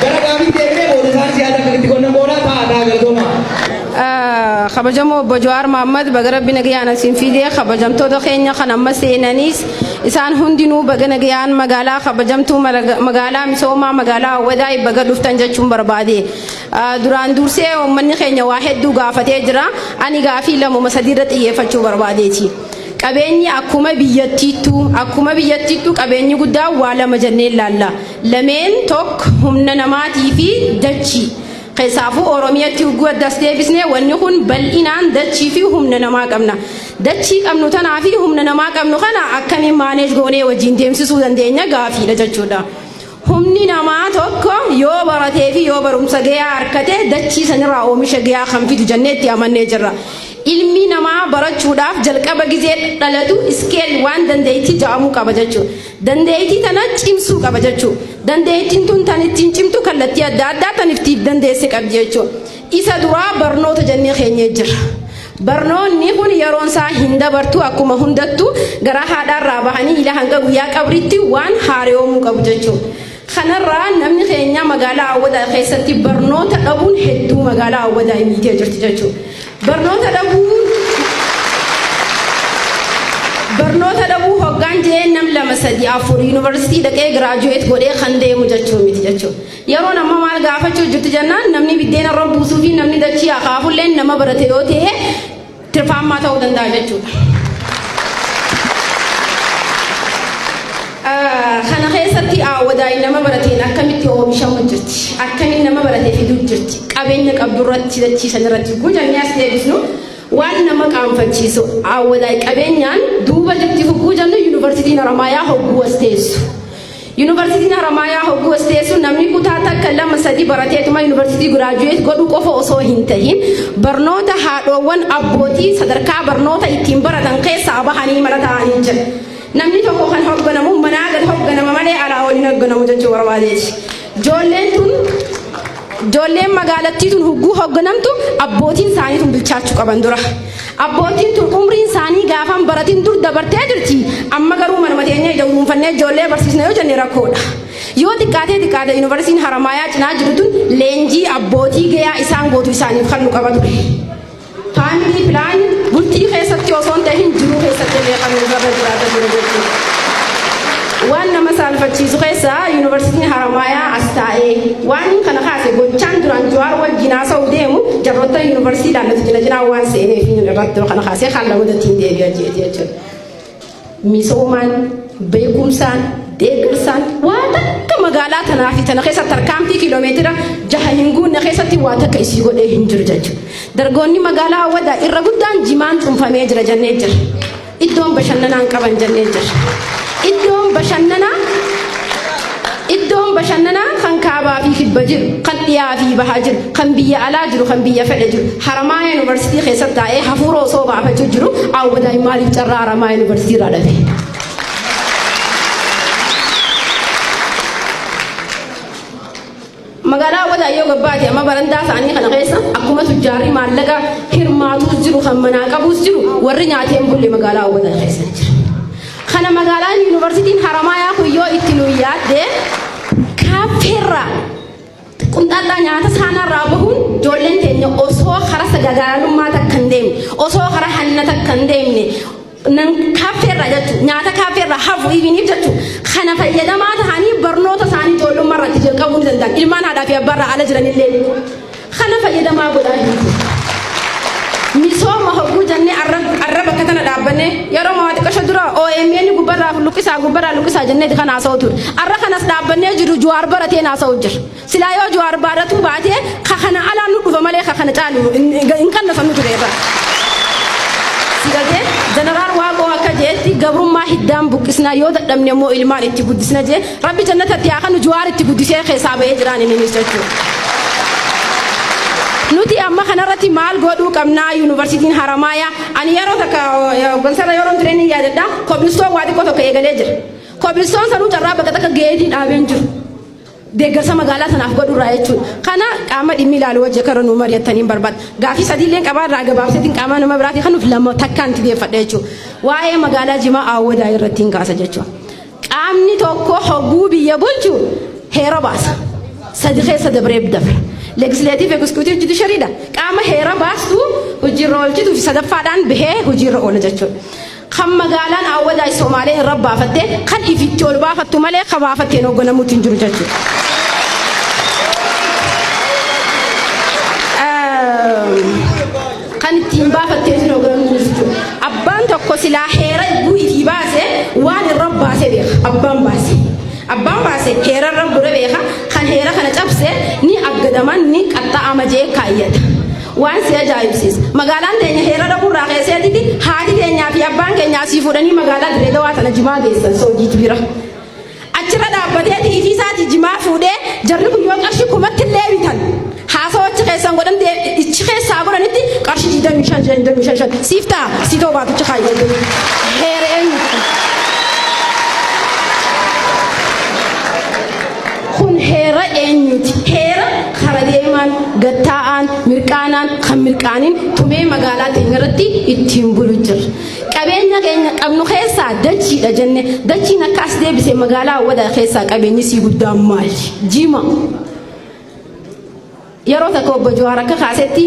Gara gaafiitti deebinee booda isaanis yaada akka itti qonnan booda ta'a ta'a galatoomaa. kabajamoo obbo Jawaar Mohaammed baga rabbi nagayaan asiin fiidee kabajamtoota keenya kan amma seenaniis isaan hundinuu baga nagayaan magaalaa kabajamtuu maraga- magaalaa misoomaa magaalaa Awwadaay baga dhuftan jechuun barbaade. Ah, Duraan dursee uummanni keenya waa hedduu gaafatee jira ani gaafii lamuma sadiirra xiyyeeffachuu barbaadeeti. Qabeenyi akkuma biyyattiittuu akkuma biyyattiittuu qabeenyi guddaan waa lama jennee ilaalla. Lameen tokk humna namaatii fi dachii. Keessaafuu Oromiyatti ugguu addas deebisne wanni kun bal'inaan dachii fi humna namaa qabna. Dachii qabnu tanaa fi humna namaa qabnu kana akkamiin maaneej goonee wajjin deemsisuu dandeenya gaafiidha jechuudha. Humni namaa tokko yoo baratee fi yoo barumsa gayaa harkate dachii sanirraa oomisha gayaa kan fidu jennee itti amannee jirra. Ilmi namaa barachuudhaaf jalqaba gizee dhalatu iskeel waan dandeettii ja'amuu qaba jechuudha. Dandeettii tana cimsuu qaba jechuu. Dandeettiin tun tan ittiin cimtu kallattii adda addaa tan ittiin dandeesse qabdi jechuu. Isa duraa barnoota jennee keenyee jira. Barnoonni kun yeroon isaa hin dabartu akkuma hundattu garaa haadhaarraa bahanii ila hanga guyyaa qabritti waan haareyoomuu qabu jechuu. Kanarraa namni keenya magaalaa Awwadaa keessatti barnoota dhabuun hedduu magaalaa Awwadaa miitee jirti jechuudha. Barnoota dhabuu barnoota dhabuu hoggaan jeen nam lama sadi afur yuunivarsiitii dhaqee giraajuweet godhee kan deemu jechuu miti jechuudha. Yeroon amma maal gaafachuu jirti jennaan namni biddeena irra buusuu fi namni dachii akaafulleen nama barate yoo ta'e tirfaammaa ta'uu danda'a jechuudha. Kana keessatti aawwadaayi nama barateen akkamitti oomishamu jirti akkamiin nama baratee fiduu jirti qabeenya qabdu irratti dachiisan irratti guutamni as deebisnu waan nama qaanfachiisu aawwadaayi qabeenyaan duuba jirti hogguu jennu yuunivarsiitiin Haramaayaa hogguu as teessu. Yunivarsiitiin Haramaayaa hogguu as teessu namni kutaa takka lama sadii barateetuma yunivarsiitii giraajuweet godhu qofa osoo hin tahin barnoota haadhoowwan abbootii sadarkaa barnoota ittiin baratan keessaa bahanii mana taa'anii jira. Namni tokko kan hogganamu manaa gad hogganama malee alaa ol hin hogganamu jechuu barbaadeeti. Ijoolleen tun Ijoolleen magaalattii tun hogguu hoogganamtu abbootiin isaanii tun bilchaachuu qaban dura. Abbootiin tun umriin isaanii gaafan baratiin dur dabartee jirti. Amma garuu manuma teenya ija uruunfannee ijoollee barsiisna yoo jenne rakkoodha. Yoo xiqqaatee xiqqaate yuunivarsiitiin Haramaayaa cinaa jiru tun leenjii abbootii gayaa isaan gootu isaaniif kan nu qaba ture. Faamilii pilaani bultii keessatti osoo hin tahin jiruu keessatti illee kan nu gaba jiraata jiru jechuudha. Waan nama saalfachiisu keessaa yuunivarsiitiin Haramaayaa as taa'ee waan kana kaase gochaan duraan Jawaar wajjin haasa'u deemu jarroota yuunivarsiitii laallatu jila jiraa waan seeneef inni irratti kana kaasee kan lamuudatti hin deebi'a jechuudha. Misoomaan, beekumsaan, deeggarsaan waa takka magaalaa tanaa fi tana keessatti tarkaanfii kiiloomeetira jaha hin guunne keessatti waa takka isii godhee hin jiru jechuudha. Dargoonni magaalaa Awwadaa irra guddaan jimaan cuunfamee jira jennee jira. Iddoon bashannanaa hin qaban jennee jira. Iddoon bashannanaa Iddoon bashannanaa kan kaabaa fi kibba jiru, kan dhiyaa fi baha jiru, kan biyya alaa jiru, kan biyya fedhe jiru, Haramaayaa Yuunivarsiitii keessatti taa'ee hafuura osoo baafachuu jiru Awwadaay maaliif carraa Haramaayaa Yuunivarsiitii irraa dhabe? Magaalaa Awwadaa yoo gabbaate amma barandaa isaanii kana keessa akkuma tujjaarri maallaqa hirmaatuus jiru kan manaa qabuus jiru warri nyaatee hin bulle magaalaa Awwadaa keessa jira. Kana magaalaan yuunivarsiitiin Haramaayaa kun yoo itti nu yaadde kaappeerraa qunxallaa nyaata saanaarraa bahuun ijoolleen teenya osoo karaa sagagaalalummaa takka hin deemne osoo karaa hanna takka hin deemne nan kaaffeerraa jechuun nyaata kaaffeerraa hafu ibiniif jechuun kana fayyadamaa ta'anii barnoota isaanii ijoollummaa irratti jalqabuu ni danda'an ilmaan haadhaa fi abbaarraa ala jiranillee kana fayyadamaa godhaa hin misooma hogguu jennee arra bakka tana dhaabbanne yeroo maa xiqqasho dura OMN gubbarraa luqqisaa gubbarraa luqqisaa jennee kan haasa'u ture arra kanas dhaabbannee jiru juwaar baratee haasa'u jira. Silaa yoo Jawaar baarratuu baatee ka kana alaan nu dhufa malee ka kana caalu hin- hin hin kannafannu ture irra. Sigatee Jeneraal Waaqoo akka jeetti gabrummaa hiddaan buqqisnaa yoo dadhabne immoo ilmaan itti guddisna jee rabbi jannatatti haa kanu Jawaar itti guddisee keessaa ba'ee jiraan inninis jechuudha. Nuti amma kanarratti maal godhuu qabnaa yuunivarsiitiin Haramaayaa ani yeroo takka gonsaarra yeroo tureen yaadadha kobilistoon waa xiqqoo tokko eegalee jira. Kobilistoon sanuu carraa bakka takka geetii dhaabeen jiru. deeggarsa magaalaa sanaaf godhu irraa jechuudha. Kana qaama dhimmi ilaalu wajji akka irra nuu mari'attaniin barbaada. Gaafii sadii illee qabaa irraa gabaabseetiin qaamaa nama biraatii kanuuf lama takkaan itti deeffadha jechuudha. Waa'ee magaalaa Jimaa Awwadaa irratti hin kaasa jechuudha. Qaamni tokko hogguu biyya bulchu heera baasa. Sadi keessa dabree dabre. Legislative Executive Judiciary dha. Qaama heera baastu hojiirra oolchituu fi sadaffaadhaan bahee hojiirra oola jechuudha. Kan magaalaan Aawwadaay Somaalee irra baafatte kan ifitti ol baafattu malee ka baafatteen hoogganamuutti hin jiru jechuudha. Kan ittiin baafattee fi hoogganamuutti hin jiru. Abbaan tokko silaa heera iyyuu itii baase waan irra baase beeka. Abbaan baase. Abbaan baase heera irra gure beeka. Kan heera kana cabse ni aggadaman ni qaxxa'ama jee kaayyata. Waan si ajaa'ibsiisa. Magaalaan teenya heera dhabuu irraa keesseetitti haati teenyaa fi abbaan keenya asii fuudhanii magaalaa Dirree Dawaa tana jimaa geessan soojiit bira. Achirra dhaabbatee tiifii isaati jimaa fuudhee jarri kun yoo qarshii kumatti illee bitan haasawachi keessan godhan ichi keessaa godhanitti qarshii 25 25 siif ta'a si ta'u baatichi kaayyoo heera eenyu. Kun heera eenyuti? Heera kara deemaan, gad taa'aan, mirqaanaan, kan mirqaanin tumee magaalaa teenya irratti ittiin bulu jirra. Qabeenya keenya qabnu keessaa dachiidha jenne dachiin akka as deebise magaalaa Awwadaa keessaa qabeenyi sii guddaan maali? Jima. Yeroo tokko obbo Jawaar akka kaasetti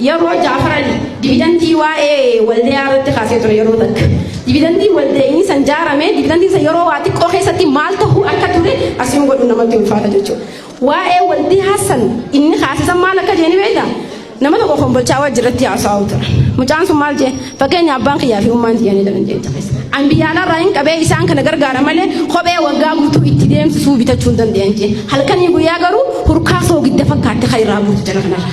yeroo Jaafaran dividantii waa'ee waldayaa irratti kaasee ture yeroo takka. Dividantii waldeenii san jaarame dividantii san yeroo waa xiqqoo keessatti maal ta'uu akka ture asiin godhu namatti ulfaata jechuudha. Waa'ee Waldii Hassan inni kaasisan maal akka jee ni beekta? Nama tokko kombolchaa wajji irratti haasa'aa ture. Mucaan sun maal jee? Fakkeenya abbaan kiyyaa fi ummaan tiyyaa ni jedhan jecha keessa. An biyyaala irraa hin qabee isaan kana gargaara malee kophee waggaa guutuu itti deemsisuu bitachuu hin danda'an jee. Halkanii guyyaa garuu hurkaa soogidda fakkaatti kan irraa buutu jira kanarra.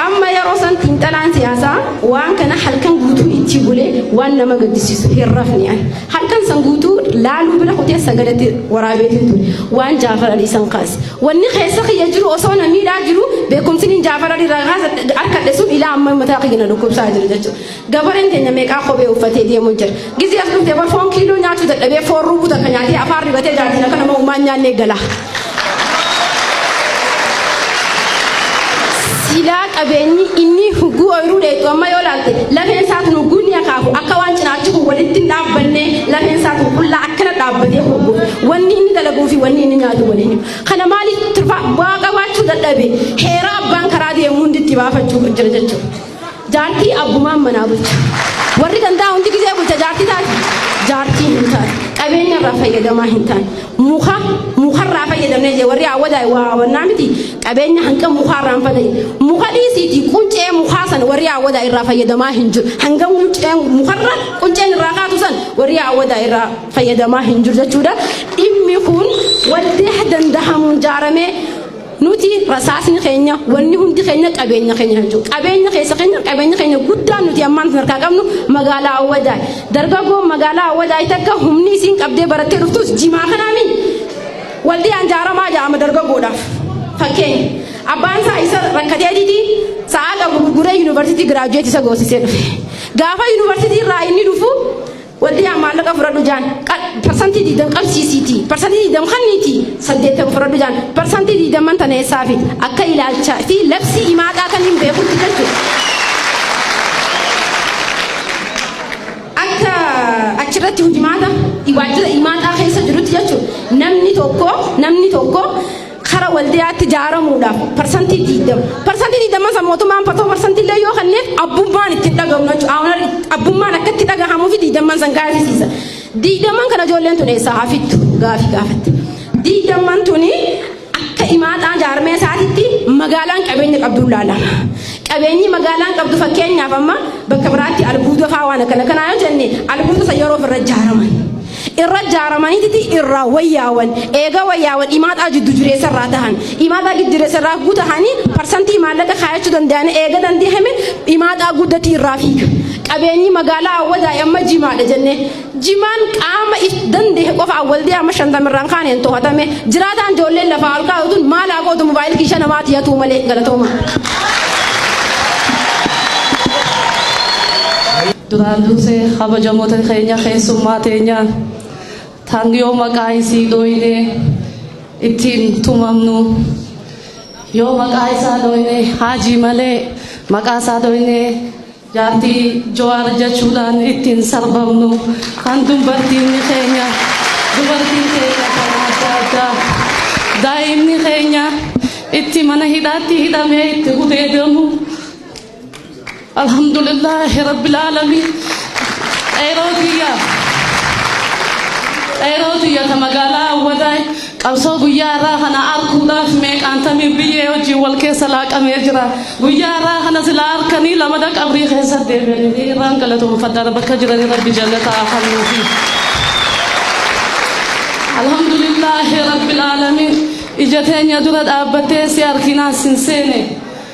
Amma yeroo san xiinxalaan siyaasaa waan kana halkan guutuu itti bulee waan nama gaddisiisu hin rafne ani. Halkan san guutuu laaluu bira kutee sagadatti waraabeetiin ture. Waan Jaafar Ali isan kaase. Wanni keessa kiyya jiru osoo na miidhaa jiru beekumsiniin Jaafar Ali irraa kaasa harkadhe sun ilaa amma mataa kiyya na dhukkubsaa jiru jechuudha. Gabareen keenya meeqaa kophee uffatee deemuu jira. Gizee as dhufte bar foon kiiloo nyaachuu dadhabee foon ruukuta kan nyaatee afaan ribatee jaartiin akka nama uumaan nyaannee gala. Silaa qabeenyi inni hugguu ooyiruu dheetu amma yoo laalte lafeen isaatu hugguu ni akaafu akka waan cinaachi kun walitti hin dhaabbanne lafeen isaatu qullaa akkana dhaabbatee hubbu wanni inni dalaguu fi wanni inni nyaatu waliin himu. Kana maaliif turfaa bu'aa qabaachuu dadhabe heeraa abbaan karaa deemu hundi itti baafachuu jira jechuudha. Jaartii abbumaan manaa bulcha. Warri gandaa hundi gizee bulcha jaartii taati. Jaartii hin taatu. Qabeenya irraa fayyadamaa hin taane. Muka mukarraa fayyadamnee jee warri awwadaa waa hawannaa miti. Qabeenya hanga mukaa irraa hin fayyadamne. Muka dhiisiiti quncee mukaa san warri awwadaa irraa fayyadamaa hin jiru. Hanga quncee mukarra qunceen irraa kaatu san warri awwadaa irraa fayyadamaa hin jiru jechuudha. Dhimmi kun waldee dandahamuun jaaramee Nuti rasaasni keenya wanni hundi keenya qabeenya keenya kan jiru. Qabeenya keessa keenya qabeenya keenya guddaan nuti ammaan sadarkaa qabnu magaalaa Awwadaa. Dargaggoon magaalaa Awwadaa takka humni isiin qabdee barattee dhuftus jimaa kanaami. Waldii anjaaramaa jedhama dargaggoodhaaf. Fakkeenya. Abbaan isaa isa rakkatee didi sa'a qabu gurguree yuunivarsiitii giraajuweetii isa goosisee dhufe. Gaafa yuunivarsiitii irraa inni dhufu Waldiyaa maallaqa fudhadhu jaan parsantii digdam qabsiisiiti parsantii digdam kanniiti saddeettama fudhadhu jaan parsantii digdamman tana eessaafi akka ilaalcha fi labsii imaaxaa kan hin beekutti jechuudha. Akka achirratti hujimaata waajjira imaaxaa keessa jirutti jechuudha namni tokko namni tokko Kara waldiyaatti jaaramuudhaaf parsantii diidama. Parsantii diidama san mootummaan patoo parsantii illee yoo kenneef abbummaan itti hin dhagahamu jechuudha. Awunar abbummaan akka itti dhagahamuu fi diidamman san gaafisiisa. Diidamman kana ijoolleen tun eessaa haa fittu gaafii gaafatte. Diidamman tuni akka imaaxaa jaarmee isaatitti magaalaan qabeenya qabduun laalama. Qabeenyi magaalaan qabdu fakkeenyaaf amma bakka biraatti albuuda fa'aa waan akkana kanaa yoo jenne albuuda san yeroo ofirra ijaaraman. irra jaaramaniititi irraa wayyaawan eega wayyaawan imaaxaa jiddu jireessa irraa tahan imaaxaa giddu jireessa irraa guu tahanii parsantii maallaqa kaayachuu danda'anii eega dandihame imaaxaa guddatii irraa fiiga qabeenyi magaalaa awwadaay amma jimaadha jennee jimaan qaama if dandehe qofa awwaldee amma shantamirraan kaaneen tohatame jiraataan ijoolleen lafaa ol kaa'utuun maal haa gootu mobaayil kiisha namaati yatuu malee galatooma. Duraan dursee kabajamoota keenya keessummaa teenya tan yoo maqaa isii dhooyne ittiin tumamnu yoo maqaa isaa dhooyne haajii malee maqaa isaa dhooyne jaartii jawaar jechuudhaan ittiin sarbamnu kan dubartiin keenya dubartiin keenya kan adda addaa daa'imni keenya itti mana hidhaatti hidhamee itti gudeedamu Alhamdulillah Rabbil Alamin Qeeroo tiyya Qeeroo tiyya ta magaalaa Awwadaay qabsoo guyyaa irraa kana arkuudhaaf meeqaan tamii biyyee wajjin wal keessa laaqamee jira guyyaa irraa kana silaa harkanii lamada qabrii keessa deebi'anii irraan galatoomfadha bakka jiranii rabbi jannataa kennuufi. Alhamdulillah Rabbil Alamin ija teenya dura dhaabbattee si harkinaan sin seene.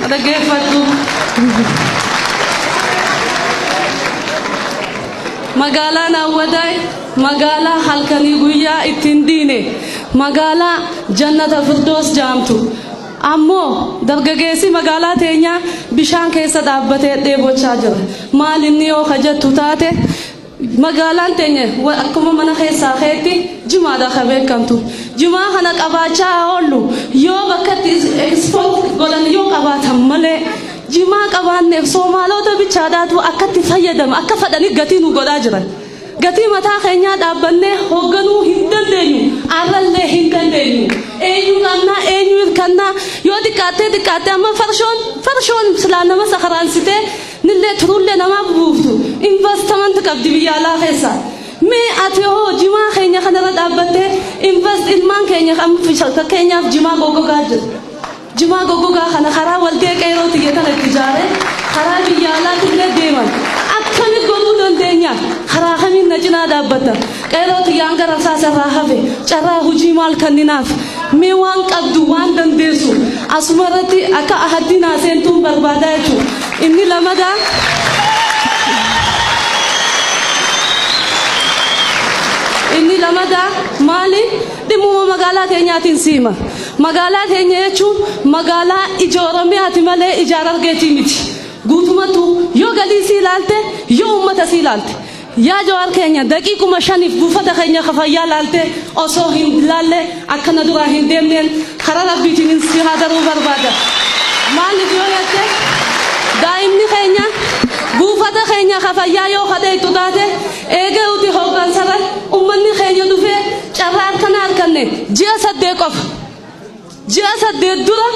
Na dhaggeeffadhu. Magaalaan Awwadaay magaalaa halkanii guyyaa ittiin diine magaalaa jannata firdoos jaamtu ammoo dargageessi magaalaa teenyaa bishaan keessa dhaabbatee dheebochaa jira maal inni yoo kajattu taate Magaalaan teenya akkuma mana keessaa keetti jimaadhaan kan beekamtu. Jimaa kana qabaachaa haa oollu. Yoo bakka itti ekspoot godhan yoo qabaatan malee jimaa qabaanneef Soomaalota bichaadhaatu akkatti fayyadama akka fadhanii gatii nu godhaa jiran. Gatii mataa keenyaa dhaabbannee hoogganuu hin dandeenyu. Arrallee hin dandeenyu. Eenyu qabnaa eenyu hirkannaa yoo xiqqaattee xiqqaattee amma farshoon farshoon silaa nama sakaraansitee Nillee turullee namaa bubuuftu investment qabdi biyya alaa keessa. Mee ati hoo jimaa keenya kanarra dhaabbattee invest ilmaan keenya kan fakkeenyaaf jimaa goggogaa jiru. Jimaa goggogaa kana karaa waldee qeeroo tiyya tana itti ijaaree karaa biyya alaatillee deeman akkamitti godhuu dandeenya? Karaa kamiin na cinaa dhaabbatta? Qeerroo tiyyaan gara rasaasa irraa hafe carraa hujii maal kanninaaf? Mee waan qabdu, waan dandeessu asuma irratti akka ahaddii naa seentuun barbaada jechuudha. Inni lamadaa inni lamadaa maali? Dhimmuma magaalaa keenyaatiin siima. Magaalaa keenya jechuun magaalaa ija Oromiyaati malee ija Harargeetii miti. Guutumatu yoo galii sii ilaalte, yoo uummata sii ilaalte. Yaa Jawaar keenya daqiiquma shaniif buufata keenya ka fayyaa laaltee osoo hin laalle akka na duraa hin deemneen karaa Rabbiitiin si haa daruu barbaada. Maaliif yoo jette daa'imni keenya buufata keenya ka fayyaa yoo ka dheeyxu taate eegee uti hooggansarra ummanni keenya dhufee carraa akkanaa arkanne ji'a saddeet qofa. Ji'a saddeet dura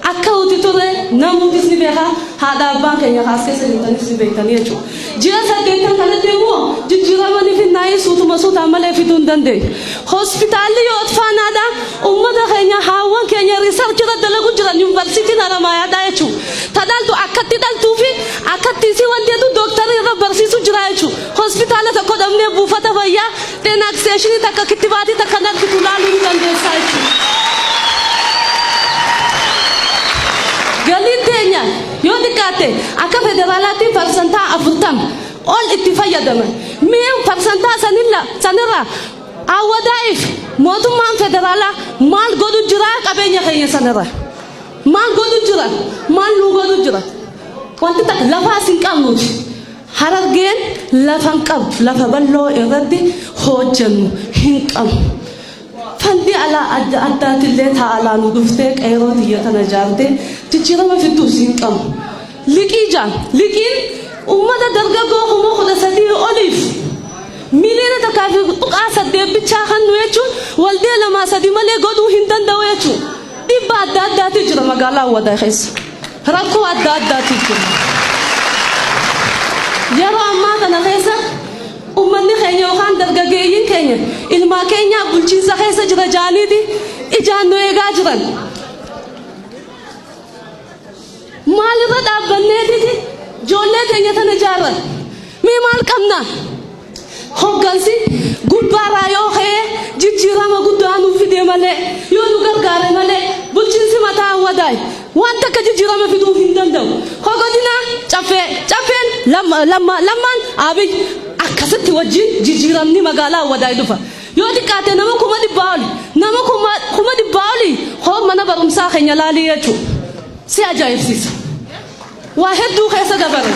akka nuti turre namuutis ni beeka, haadha abbaan keenya kaas keessa jirtanis ni beektanii jechuudha. Ji'a saddeettan kanatti immoo jijjiirama ni finnaa'ee suutuma suutaan malee fiduu hin dandeenye. Hospitaalli yoo otfaanaadha, uummata keenya haawwan keenya riisarchi irra dalagu jiran yuunivarsiitiin Haramaayaadha jechuudha. Ta dhaltu akkatti dhaltuu fi akkatti isii wanti jedhu dooktarri irra barsiisu jira jechuudha. Hospitaala tokko dhabnee buufata fayyaa Denakseeshinii takka kittibaatii takka hin argitu ilaaluu ni dandeessaa jechuudha. Galiin teenya yoo xiqqaatte akka federaalaatti parsantaa afurtama ol itti fayyadama. Mee parsantaa sanilla sanirraa awwadaa'iif mootummaan federaalaa maal godhu jira qabeenya keenya sanirraa? Maal godhu jira? Maal nuu godhu jira? Wanti takka lafaas hin qabnuuti. Harargeen lafa hin qabdu lafa bal'oo irratti hoojjannu hin qabnu. Fandi alaa adda addaatillee taa alaa nu dhuftee qeeroo tiyya tana jaartee jijjiirama fidduus hin qabnu. Liqii jaan liqiin uummata dargaggoo kuma kudha sadii oliif miliyoona takkaa fi tuqaa saddeet bichaa kan nu jechuun waldee lamaa sadi malee godhuu hin danda'u jechuun dhibba adda addaatu jira magaalaa Awwadaa keessa. Rakkoo adda addaatiif jirra. Yeroo ammaa kana keessa ummanni keenya yookaan dargaggeeyyiin keenya ilmaa keenyaa bulchiinsa keessa jira jaaniiti ijaan nu eegaa jiran. Maalirra dhaabbanneetiti ijoollee keenya tana ijaarra? Mee maal qabna? Hoggansi gubbaarraa yoo ka'e jijjiirama guddaa nuuf fidee malee yoo nu gargaare malee bulchiinsi mataa Awwadaay waan takka jijjiirama fiduuf hin danda'u. Hogodina Caffee Caffeen Lammaa Lammaan Abiy akkasitti wajjin jijjiiramni magaalaa Awwadaay dhufa. Yoo xiqqaate nama kuma dhibbaa oli nama kuma dhibbaa oli hoo mana barumsaa keenya laalii jechuudha. Si ajaa'ibsiisa. Waa hedduu keessa dabarre.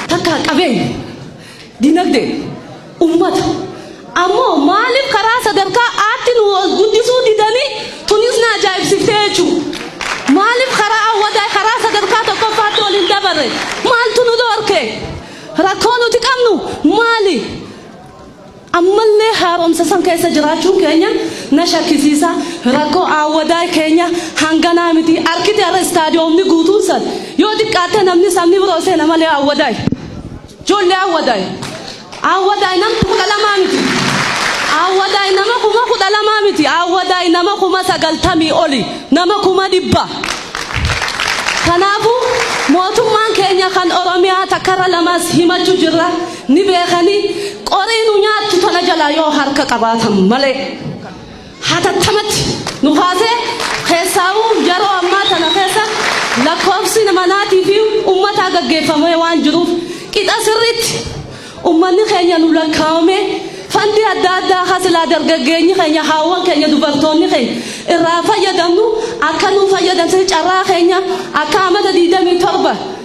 Takka qabeenya, dinagdee, ummata. Ammoo maaliif karaa sadarkaa aatti nu ol guddisuu didanii tunis na ajaa'ibsiftee jechuu. Maaliif karaa awwadaa karaa sadarkaa tokkoffaatti ol hin dabarre? Maaltu nu dhorke? Rakkoo nuti qabnu maali? Ammallee haaromsa san keessa jiraachuun keenya na shakkisiisa. Rakkoo Aawwadaay keenya hanganaa miti. Arkite har'a istaadiyoomni guutuun san yoo xiqqaatte namni sabni biroo seena malee Aawwadaay. Ijoollee Aawwadaay. Aawwadaay nama kudha lamaa miti. Aawwadaay nama kuma kudha lamaa miti. Aawwadaay nama kuma sagaltamii oli. Nama kuma dhibba. Kanaafuu mootummaan keenya kan Oromiyaa takkarra lamas himachu jirra. ni beekanii qorii nu nyaattu tana jalaa yoo harka qabaatan malee hatattamatti nu kaasee keessaawuu yeroo ammaa tana keessa lakkoofsi manaatii fi ummataa gaggeeffamee waan jiruuf qixa sirriitti ummanni keenya nu lakkaa'amee fandii adda addaa hasilaa dargaggeenyi keenya haawwan keenya dubartoonni keenya irraa fayyadamnu akka nu fayyadamsisu carraa keenya akka amata 27